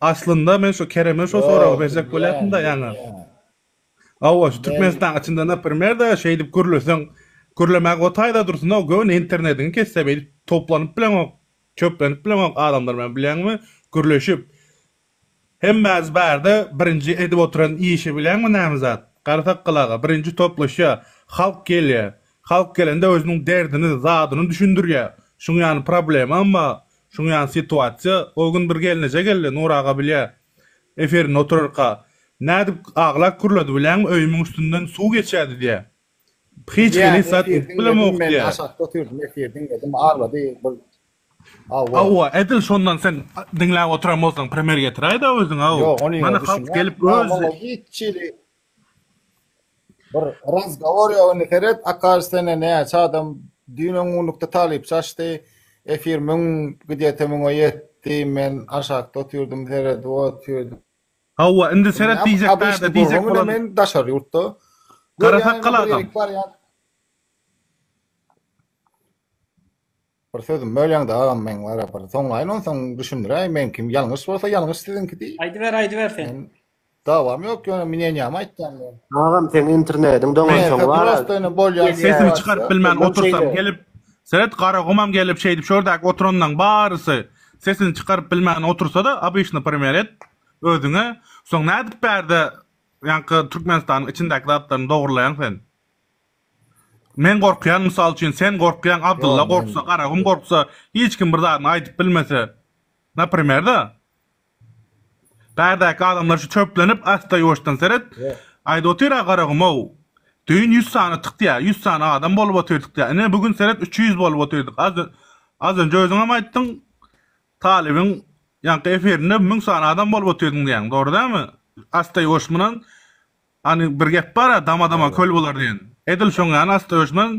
Aslynda men şu Kereme şo soragy berjek bolýatymda ýaňy. Hawa, şu Türkmenistanyň içinde naprimer-de şeýdip gürleseň, gürlemäge otaýda dursun-ow, göni internetiňi kesse beýdip toplanyp bileňok, çöplenip bileňok adamlar bilen bilýäňmi, gürleşip. Hemmämiz barda birinji edip oturan işi bilýäňmi näme zat? Gara sakgal aga, birinji toplaşýar, halk gelýär. Halk gelende özüniň derdini, zadyny düşündirýär. Şuň ýaly problemam bar. Şuň ýaly situasiýa o gün bir gelneje geldi Nur aga bilýä efirinde oturarka nädip aglap gürledi bilýäňmi öýümiň üstünden suw geçýädi diýä hiç Bilýän hili zat efir edip diňledim bilemok men diýä. aşakda otyrdim efir diňledim aglady bir hawa. Hawa edil şondan sen diňläp oturan bolsaň primer getiräýdä özüňe hawa Ýok ony ýok mana halk düşünýän gelip Ýok öz muňa hiç hili Bir razgowor ýok indi seret Akaş sene näçe adam düýn öň gunlukda talypçy açdy efir müň gidýete müňe ýetdi men aşakda otyrdym seredip otyrdy. Hawa indi seret diýjek bärde diýjek bolan. Men daşary ýurtda. Garasakgal agam. Bir sözüm bölýäňdä agam meň bara bir soňlaýyn onsoň düşündiräýin meňkim ýalňyş bolsa ýalňyş siziňkidi. Aýdyber aýdyber sen. Dawam ýok ýöne minenýämi aýtýan men. Agam seň internediň doňansoň bara. Sesimi çykaryp bilmän otursam gelip seret garagumam gelip şeýdip şordäki oturanlaň barysy sesini çykaryp bilmän otursada obyçny primer et özüňe soň nädip bärde ýaňky türkmenistanyň içindäki zatlaryny dogrylaýaň sen. Men gorkýan mysal üçin sen gorkýaň Abdylla gorksa Garagum gorksa hiç kim bir zadyny aýdyp bilmese naprimerda bärdäki adamlar şu çöplenip asda ýuwaşdan seret aýdyp otyra Garagumow düýn ýüz sany tykýa ýüz sany adam bolup otyrdyk diýä ine bu gün seret üç ýüz bolup otyrdyk az önje özüňem aýtdyň talybyň ýaňky efirinde müň sany adam bolup otyrdyň diýýäň dogry dälmi asda ýuwaş munan Hany bir gep bar-a, dama-dama köl bolar diýen. Edil şoň ýaly asla öçmez.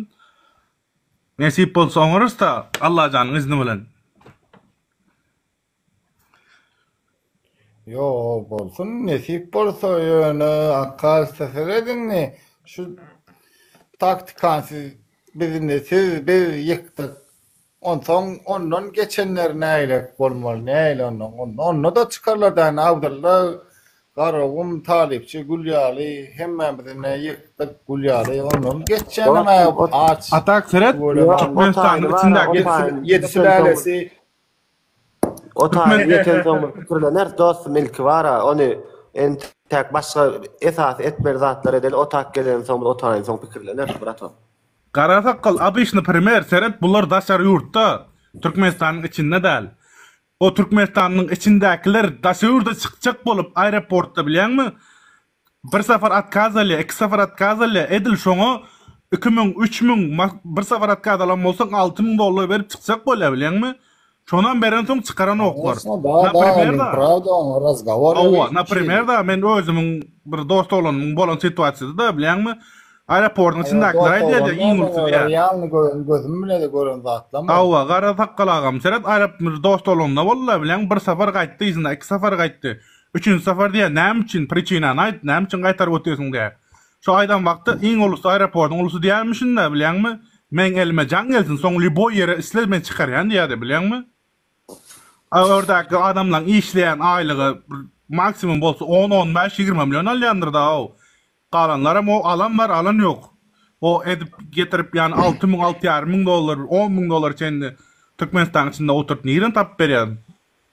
Nesip bolsa oňarys-da, Allajanyň izni bilen. Ýoo, bolsun, nesip bolsa, ýöne, Akga usta, siz ez indi şu taktikany siz biz indi siz biz ýykdyk. Onsoň ondan geçenler nägilek bolmaly, nähili ondan, onda, onda-da çykarlar däne, Abdylla, Garagum, Talypçy, Gül ýaly, hemmämizine ýykdyk, Gül ýaly, ondan geçýänem-ä aç. Atak seret, Türkmenistanyň içindäki ýedi, ýedi sülälesi. O taýy ýetensoň bir pikirleneris, dostum, ilki bar-a, ony entek başga esasy etmeli zatlar edeli, o tak gelensoň, bir o taýynsoň pikirleneris, bratom. Gara sakgal obyçny primer seret bular daşary ýurtda türkmenistanyň içinde däl o türkmenistanyň içindäkiler daşa ýurda çykjak bolup aeroportda bilýäňmi bir safar otkaz alýa iki safar otkaz alýa edil şoňa iki müň üç müň bir safar otkaz alan bolsaň alty müň dollar berip çykjak bolýa bilýäňmi Şonam berensoň çykaran oklar. Aýtma, da, da, Naprimer men da. prawda oňa razgowor Hawa, edip naprimer çykyp. da, men özümiň bir dost oglanymyň bolan situasiýasy-da, bilýäňmi, aeroportyň Aýa, içindakiler dost aýdýar-da, oglan iň näme, ulusydy-ä. olar realny gören, gözüm bilen-de gören zatlarymy? Hawa, gara sakgal agam, seret, aerop bir dost oglanynda boldy-da, bilýäňmi, bir sapar gaýtdy, yzyna iki sapar gaýtdy. Üçünji sapar diýýär, näme üçin, priçinany aýt, näme üçin gaýtaryp otyrsyn diýýär. Şu aýdan wagtda iň ulusy aeroportyň ulusy diýýärmişinda bilýäňmi? Meň elime jaň gelsin soň lýuboý ýere isle men çykarýan diýýärdi bilýäňmi? A ördäki adamlaň işleýän aýlygy bir maksimum bolsa on on bäş ýigrimi million alýandyrda-ow. Galanlaram o alan bar alan ýok. O edip getirip ýany alty müň alty ýarym müň dollar bir on müň dollara çenli Türkmenistanyň içinde oturyp nireden tapyp berýär?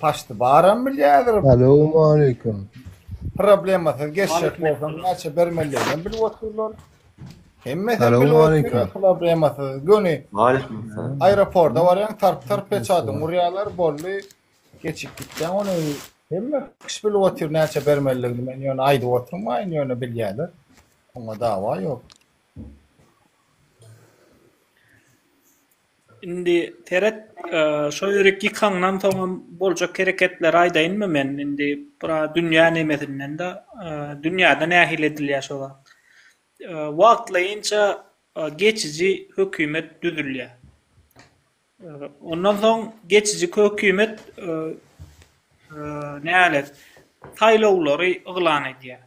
Paşty baram bilýädir. Salam aleyküm. Problemasyz geçjek bolsaň näçe bermelidigini bilip otyrlar. Hemme sen bilip otyrlar problemasyz. Göni. Aleyküm. Aeroporta barýan tarp tarp peçadyň urýarlar bolly. Geçip gitýän ony hemme kişi bilip otyr näçe bermelidigini men ýöne aýdyp oturmaýyn ýöne bilýärler. Oňa dawa ýok. Indi seret, şo ýürik ýykaňdan soňam boljak hereketleri aýdaýynmy men? Indi bura dünýä nemesinden-de, dünýäde nähili edilýär şo zat? Wagtlaýynça geçiji hökümet düzülýär. Ondan soň geçiji hökümet nälet, saýlawlary yglan edýär.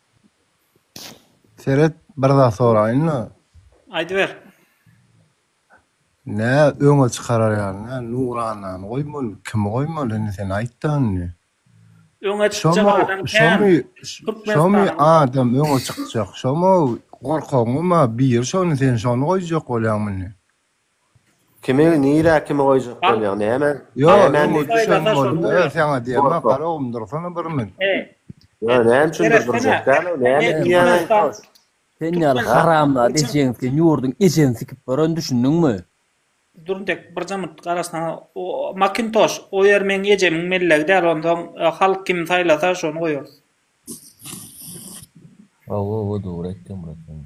Seret bir zat soraýynda. Aýdyber. Nä öňe çykarar ýaly Nuranany goýmaly kimi goýmaly indi sen aýtda indi. Öňe çykjak adam kän Türkmenistanyň. Şomy adam öňe çykjak şomy gorkagyňmy biri şony sen şony goýjak bolýaňmy indi. Kimi nirä kimi goýjak bolýaň näme? Nämäni düşen bolup öl saňa diýemok gara umdursana bir mün. Ýöne näme üçin bir durjak däl-ow näme diýýäň toş. Sen ýaly haramzada ejeň sen ýurduň ejeň sikip baran düşündiňmi. Durntek bir jymyrt gara saňa Makintoş o ýer meň ejemiň mellegi däl onsoň halk kimi saýlasa şony goýarys. Hawa hawa dogry aýtýaň brat sen.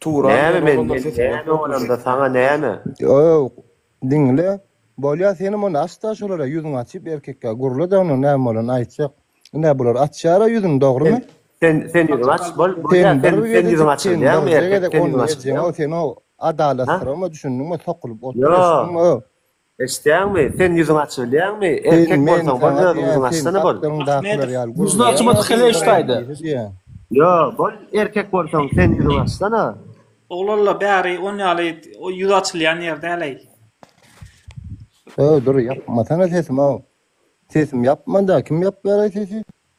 Turan ýeri Näme men, bolanda men näme bolanda saňa näme? Ýok, diňle. Bolýa senem onda aç-da şolara ýüzüňi açyp erkekkä gurla-da onuň näme bolany aýtjak. Ine bular açýar-a ýüzüni dogrymy? Sen, sen ýüzüňi aç, bol, bolýa sen, sen ýüzüňi açylýaňmy erkek, sen ýüzüňi açylýaňmy? Sen o adalatsyzam-a düşündiňmi, sokulyp otur, eşitdiňmi? Eşitýäňmi? Sen ýüzüňi açybilýäňmi? Erkek bolsaň, boldy özüň ýüzüňi açsana bol. Ahmedov, ýüzüni açmadyk heleý taýda. Ýo, bol erkek bolsaň, sen ýüzüňi açsana. Oglanlar bäri on ýaly ýüz açylýan ýer däleý. Öý, dur, ýapmasana sesimi-ow. Sesim ýapmanda, kim ýapýaraý sesi?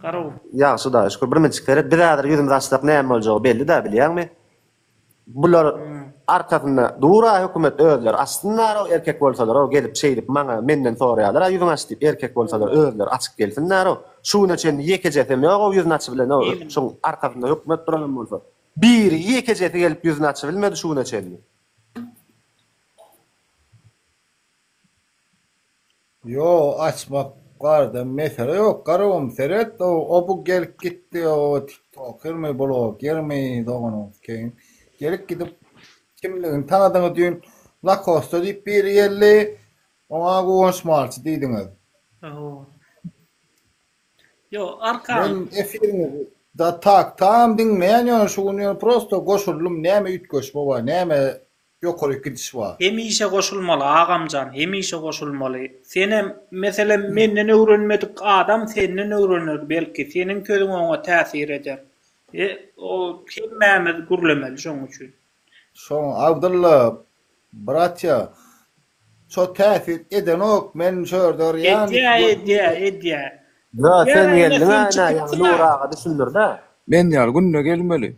Ýagşy hudaýa şükür. Birnejik seret, biz häzir ýüzümizi açsak näme boljagy belli-dä, bilýäňmi? Bular arkasynda dur-a hökümet özleri açsynlar-ow, erkek bolsalar-ow, gelip şeýdip maňa, menden soraýarlar-a ýüzüňi aç diýip, erkek bolsalar özleri açyp gelsinler-ow. Şu güne çenli ýekejesem ýog-ow ýüzüni açybilen-ow, şoň arkasynda hökümet duranam bolsa. Biri, ýekejesi gelip ýüzüni açybilmedi şu güne çenli. Ýo açmak barada mesele ýok garowym seret o o bu gelip gitdi o tiktokermi blogermi doganyňyz keýn gelip gidip kimligini tanadyňyz düýn lakosta diýip biri geldi oňa guwanç malçy diýdiňiz Oho. Ýo arkan. Men efiriňizi da tak tam diňleýän ýöne şu gün ýöne prosto goşuldym näme üýtgeşme bar näme ýokaryk gidiş bar. Hemişe goşulmaly agamjan hemişe goşulmaly senem meselem menden öwrenmedik adam senden öwrener belki seniň sözüň oňa täsir eder e o hemmämiz gürlemeli şoň üçin. Şoň Abdylla bratýa Şo täsir edenok men şördar ýaly. Edýä edýä edýä. Ýo sen geldiňä ine ýaňy Nury aga düşündirdä. Men ýaly günde gelmeli.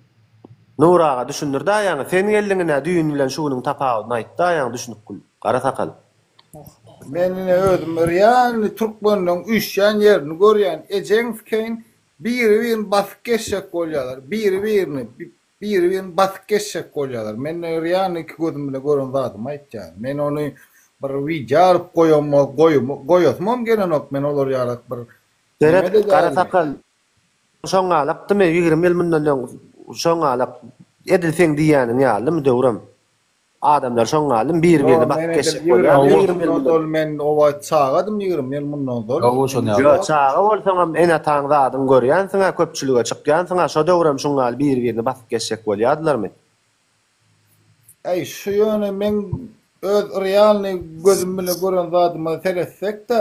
Nury aga düşündirdä ýaňy sen geldiň ine düýn bilen şu günüň tapawudyny aýtda ýaňy düşünip gül gara sakal. Men ine özüm örýän türkmenleň üýşýän ýerini görýän ejeňskeýin biri birini basyp geçjek bolýalar biri birini Biri birini basyp geçjek bolýarlar. Men real iki gözüm bilen gören zadymy aýtýan. Men ony bir wideo alyp goýamok, goýasymam gelenok, men olar ýalak bir Berat gara sakal şoňalakdymy ýigrimi ýyl mundan öň şoňalak edil seň diýýäniň ýalymy Döwrem? Adamlar şoň galym biri birine bakyp geçjek bolýar ýigrimi ýyl mundan men oba çagadym ýigrimi ýyl mundan ozal ýo çaga bolsaňam ene ataň zadyň görýänsiňä köpçülige çykýansyňa şo döwrem şuň galy biri birine basyp geçjek bolýadylarmy. Äý şu ýöne meň öz realnyý gözüm bilen gören zadyma seretsekdä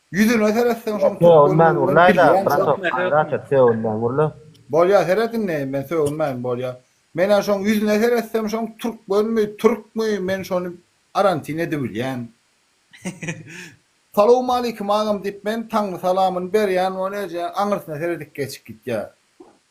Ýüzüne seretseň şoň türkmeniň bilen bilýän şoň. Gaýrat et sögünmän urla. Bolýa seret indi men sögünmän bolýa. Menä şoň ýüzüne seretsem şoň türkmenmi türkmi men şony arantin edibilýän. Salowmaleýkim agam diýip men taňry salamyny berýän ony eje aňyrsyna seredip geçip gitýä.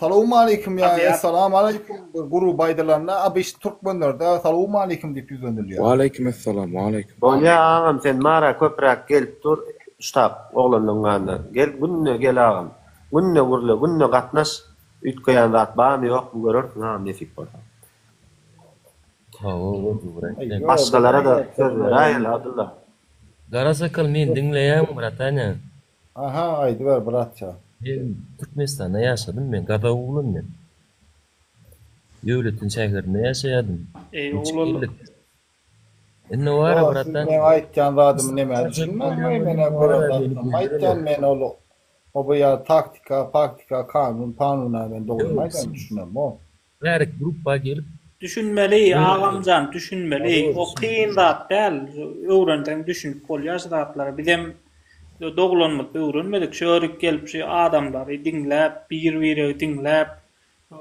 Salowmaleýkim ýa-da Essalamualeýkum guru baýdalanda abyş türkmenlerde Salowmaleýkim diýip ýüzlenilýär. Waleýkim Essalam Waleýkim. Bolýa agam sen mara köpräk gelip dur ştab oglanlaň ýanyna gel günde gel agam günde gürle günde gatnaş üýtgeýän zat barmy ýokmy görersiň agam nesip bolsa. Hawa gowy brat sen. Başgalara da söz beräýeli Abdylla. Gara sakal men diňleýäň bratanýa. Aha aýdyber bratjan. Men Türkmenistanda ýaşadym men Gazak oglan men. Döwletiň şäherinde ýaşaýadym. Eý oglan. Indi wara brat. Siz meň aýtýan zadymy nämä düşünmäň eý menä gören zatym aýtýan men ol oba ýa taktika paktika kanun panuna men dogrymy aýdan düşünemok. Bärik gruppa gelip. Düşünmeli agamjan düşünmeli o kyn zat däl öwrenseň düşünip bolýar şu zatlara bizem doglanymyzda öwrenmedik şu örik gelip şu adamlary diňläp bir biregi diňläp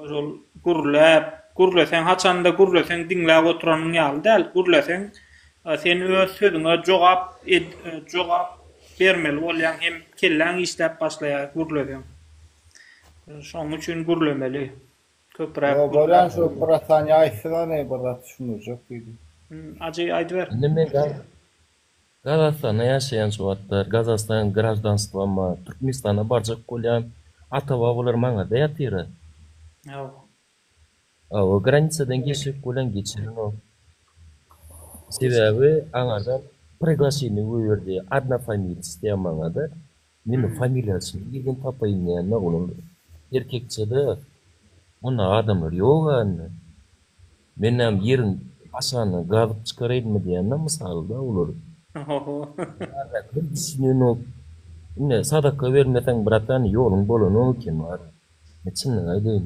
şol gürläp gürleseň haçanda gürleseň diňläp oturanyň ýaly däl gürleseň sen öz sözüňe jogap jogap bermeli bolýaň hem kelläň işläp başlaýar gürleseň şoň üçin gürlemeli. Köpüräk Ýok bolýan şu Brat saniýa aýtsyn ony Brat düşündirjek diýdim. Ajy aýdyber. Indi men Gazagystanda ýaşaýan şu wagtlar Gazagystan graždanstwom bar Türkmenistana barjak bolýan ata babalar maňada ýatyra. Ýok. Hawa granisadan geçjek bolýan geçirinok. Sebäbi aňardan priglaşeniýe goýberdi Adnofamilýs diýen maňada Men familiýasyny nirden tapaýyn näme onuň erkekçede mundagy adamlar ýok ände menäm ýeriň aşagyna gazyp çykaraýynmy diýýänler mysalda olar. Ohoho. Bardakylar düşünenok. Ine sadaka bermeseň bratan ýoluň bolanok eken wara. Men çynlygy aýdaýyn.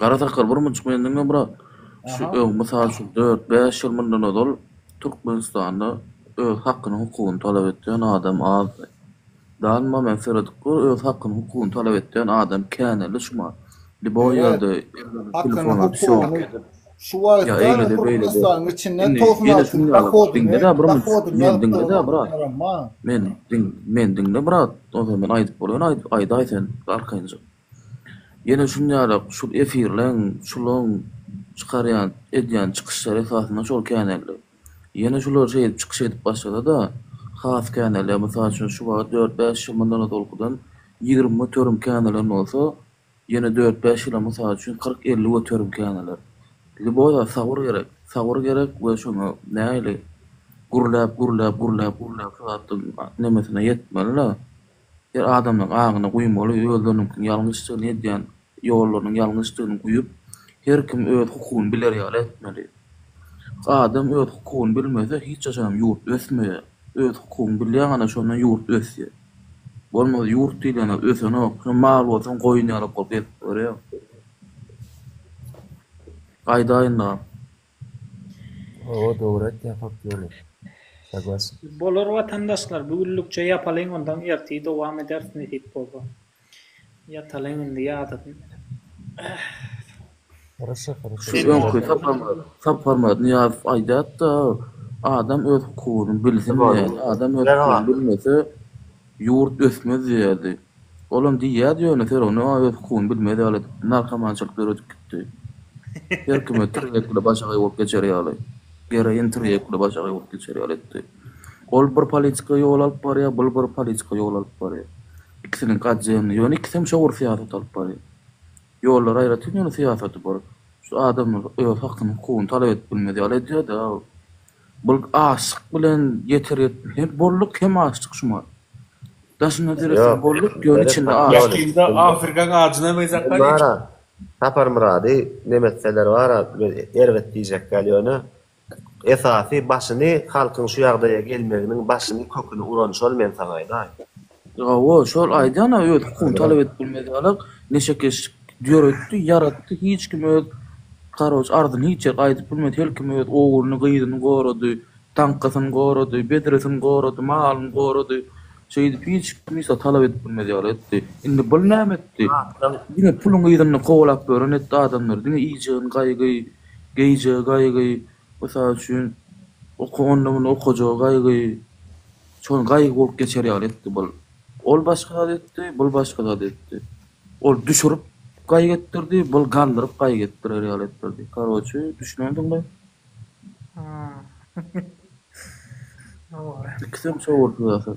Gara sakgal burmunçyk men diňe brat şu öň mysal üçin dört bäş ýyl mundan ozal Türkmenistanda öz hakyny hukugyny talap etýän adam azdy. Danyma men seredip gör öz hakyny hukugyny talap etýän adam känä lyşman liboý ýerde elinde telefon alyp şo Şu wagtda Türkmenistanyň içinde togsan alty dohodyny dohodyny ýazyp durýan adamlar bar. Men diňle brat ozal men aýdyp bolýan aýdaý sen arkaýynja. Ýene şunýarak şul efirleň şulaň çykarýan edýän çykyşlary esasynda şol känelli. Ýene şular şeýdip çykyş edip başlasa-da has känelýär mysal üçin şu wagt dört bäş ýyl mundan ozalkydan ýigrimi göterim känelen bolsa ýene dört bäş ýyla mysal üçin kyrk elli göterim käneler. Liboda sabyr gerek sabyr gerek we şoňa näili gürläp gürläp gürläp gürläp şu zatlaň nemesine ýetmeli-le Her adamlaň aňyna guýmaly özleriniňkiň ýalňyşdygyny edýän ýollarynyň ýalňyşdygyny guýup her kim öz hukugyny biler ýaly etmeli. Adam öz hukugyny bilmese hiç haçanam ýurt ösmeýär. Öz hukugyny bilýän gana şonda ýurt ösýär. Bolmasa ýurt diýlen zat ösenok. Şo mal bolsaň goýun ýaly bol gezip ýörýäň. Gaýdaýyndam. Hawa dogry aýtýaň hak ýoly. Saglaşyk. Bolar watandaşlar bu günlükçe ýapalyň ondan ertir dowam ederis nesip bolsa. Ýatalyň indi ýadadym. Horaşa horaşa. Şu öňki Sapar Myrat Nyýazow aýdýatda adam öz hukugyny bilsin diýen adam öz hukugyny bilmese Ýurt ösmez diýýärdi. Olam diýýärdi ýöne Fergana öz hukugyny bilmez ýaly narkomançylyk döredip gitdi. Her kime tirýekli başagaý bolup geçer ýaly. Geroin tirýekli başagaý bolup geçer ýaly etdi. Ol bir politika ýol alyp barýar, bul bir politika ýol alyp barýar. Ikisiniňki atjemli. Ýöne ikisem çowur syýasat alyp barýar. Ýollary aýratyn ýöne syýasaty bir. Şu adamlar öz hakyny hukugyny talap edip bilmez ýaly edýärdi-ä ol. Bul açlyk bilen ýeter ýetmez. Hem bolluk hem açlyk şuma. Daşynda döretseň bolluk ýöne içinde açlyk. Ýakynda afrikan ajyna meňzäpdir eşit. Saparmyrady nemetseler bara erbet diýjek däl ýöne esasy başyny halkyň şu ýagdaýa gelmeginiň başyny köküni uran şol men saňa aýdaýyn. Hawa, şol aýdýan-a öz hukugyny talap edip bilmez ýalak, neşekeşlik döretdi, ýaratdy, hiç kim öz karoç arzyny hiç ýerde aýdyp bilmez, her kim öz ogluny, gyzyny gorady, taňkasyny gorady, bedresini gorady, malyny gorady, şeýdip hiç kim ysa talap edip bilmez ýaly etdi. Indi bul näme etdi? Diňe puluny yzynda kowalap ýören etdi adamlary, diňe iýjegini gaýgy, geýjegi gaýgy, Mysal üçin, oky onda muny okajaga gaýgy, şony gaýgy bolup geçer ýaly etdi bul. Ol başga zat etdi, bul başga zat etdi. Ol düşürip gaýgy etdirdi, bul galdyryp gaýgy etdirer ýaly etdirdi. Karoçi, düşünendiňmi? Hä. Ýa bor. Ikisem şowursyz asyl.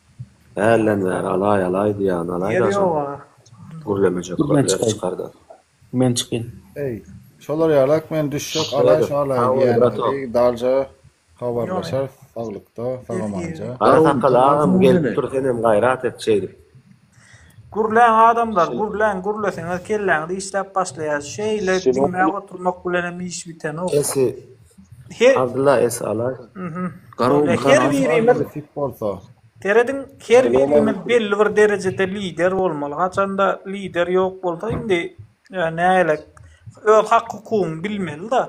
Hälden bäri alaý alaý diýýän alaý daşam gürlemejek bir ýer çykar-da. Men çykyn. Eý, şolar ýalak men düşjek alaý şu alaý diýýänleri dalja habarlaşarys saglykda sagamanja. Garasakal agam gelip dur senem gaýrat et şeýdip. Gürläň adamlar gürläň gürleseňiz kelläňiz işläp başlaýar şeýle diňläp oturmak bilenem iş bitenok. Abdylla es alaý. Garawul han bolsa. Serediň her birimiz belli bir derejede lider bolmaly. Haçanda lider ýok bolsa indi nägele öz hak hukugyňy bilmeli-de.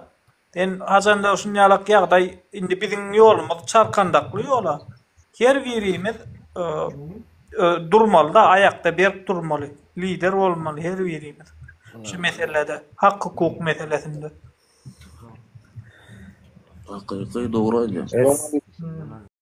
Sen haçanda şunýalak ýagdaý indi biziň ýolumyz çarkandakly ýola. Her birimiz durmaly-da, aýakda berk durmaly. Lider bolmaly her birimiz şu meselede, hak hukuk meselesinde. Hakyky dogry aýdýaň.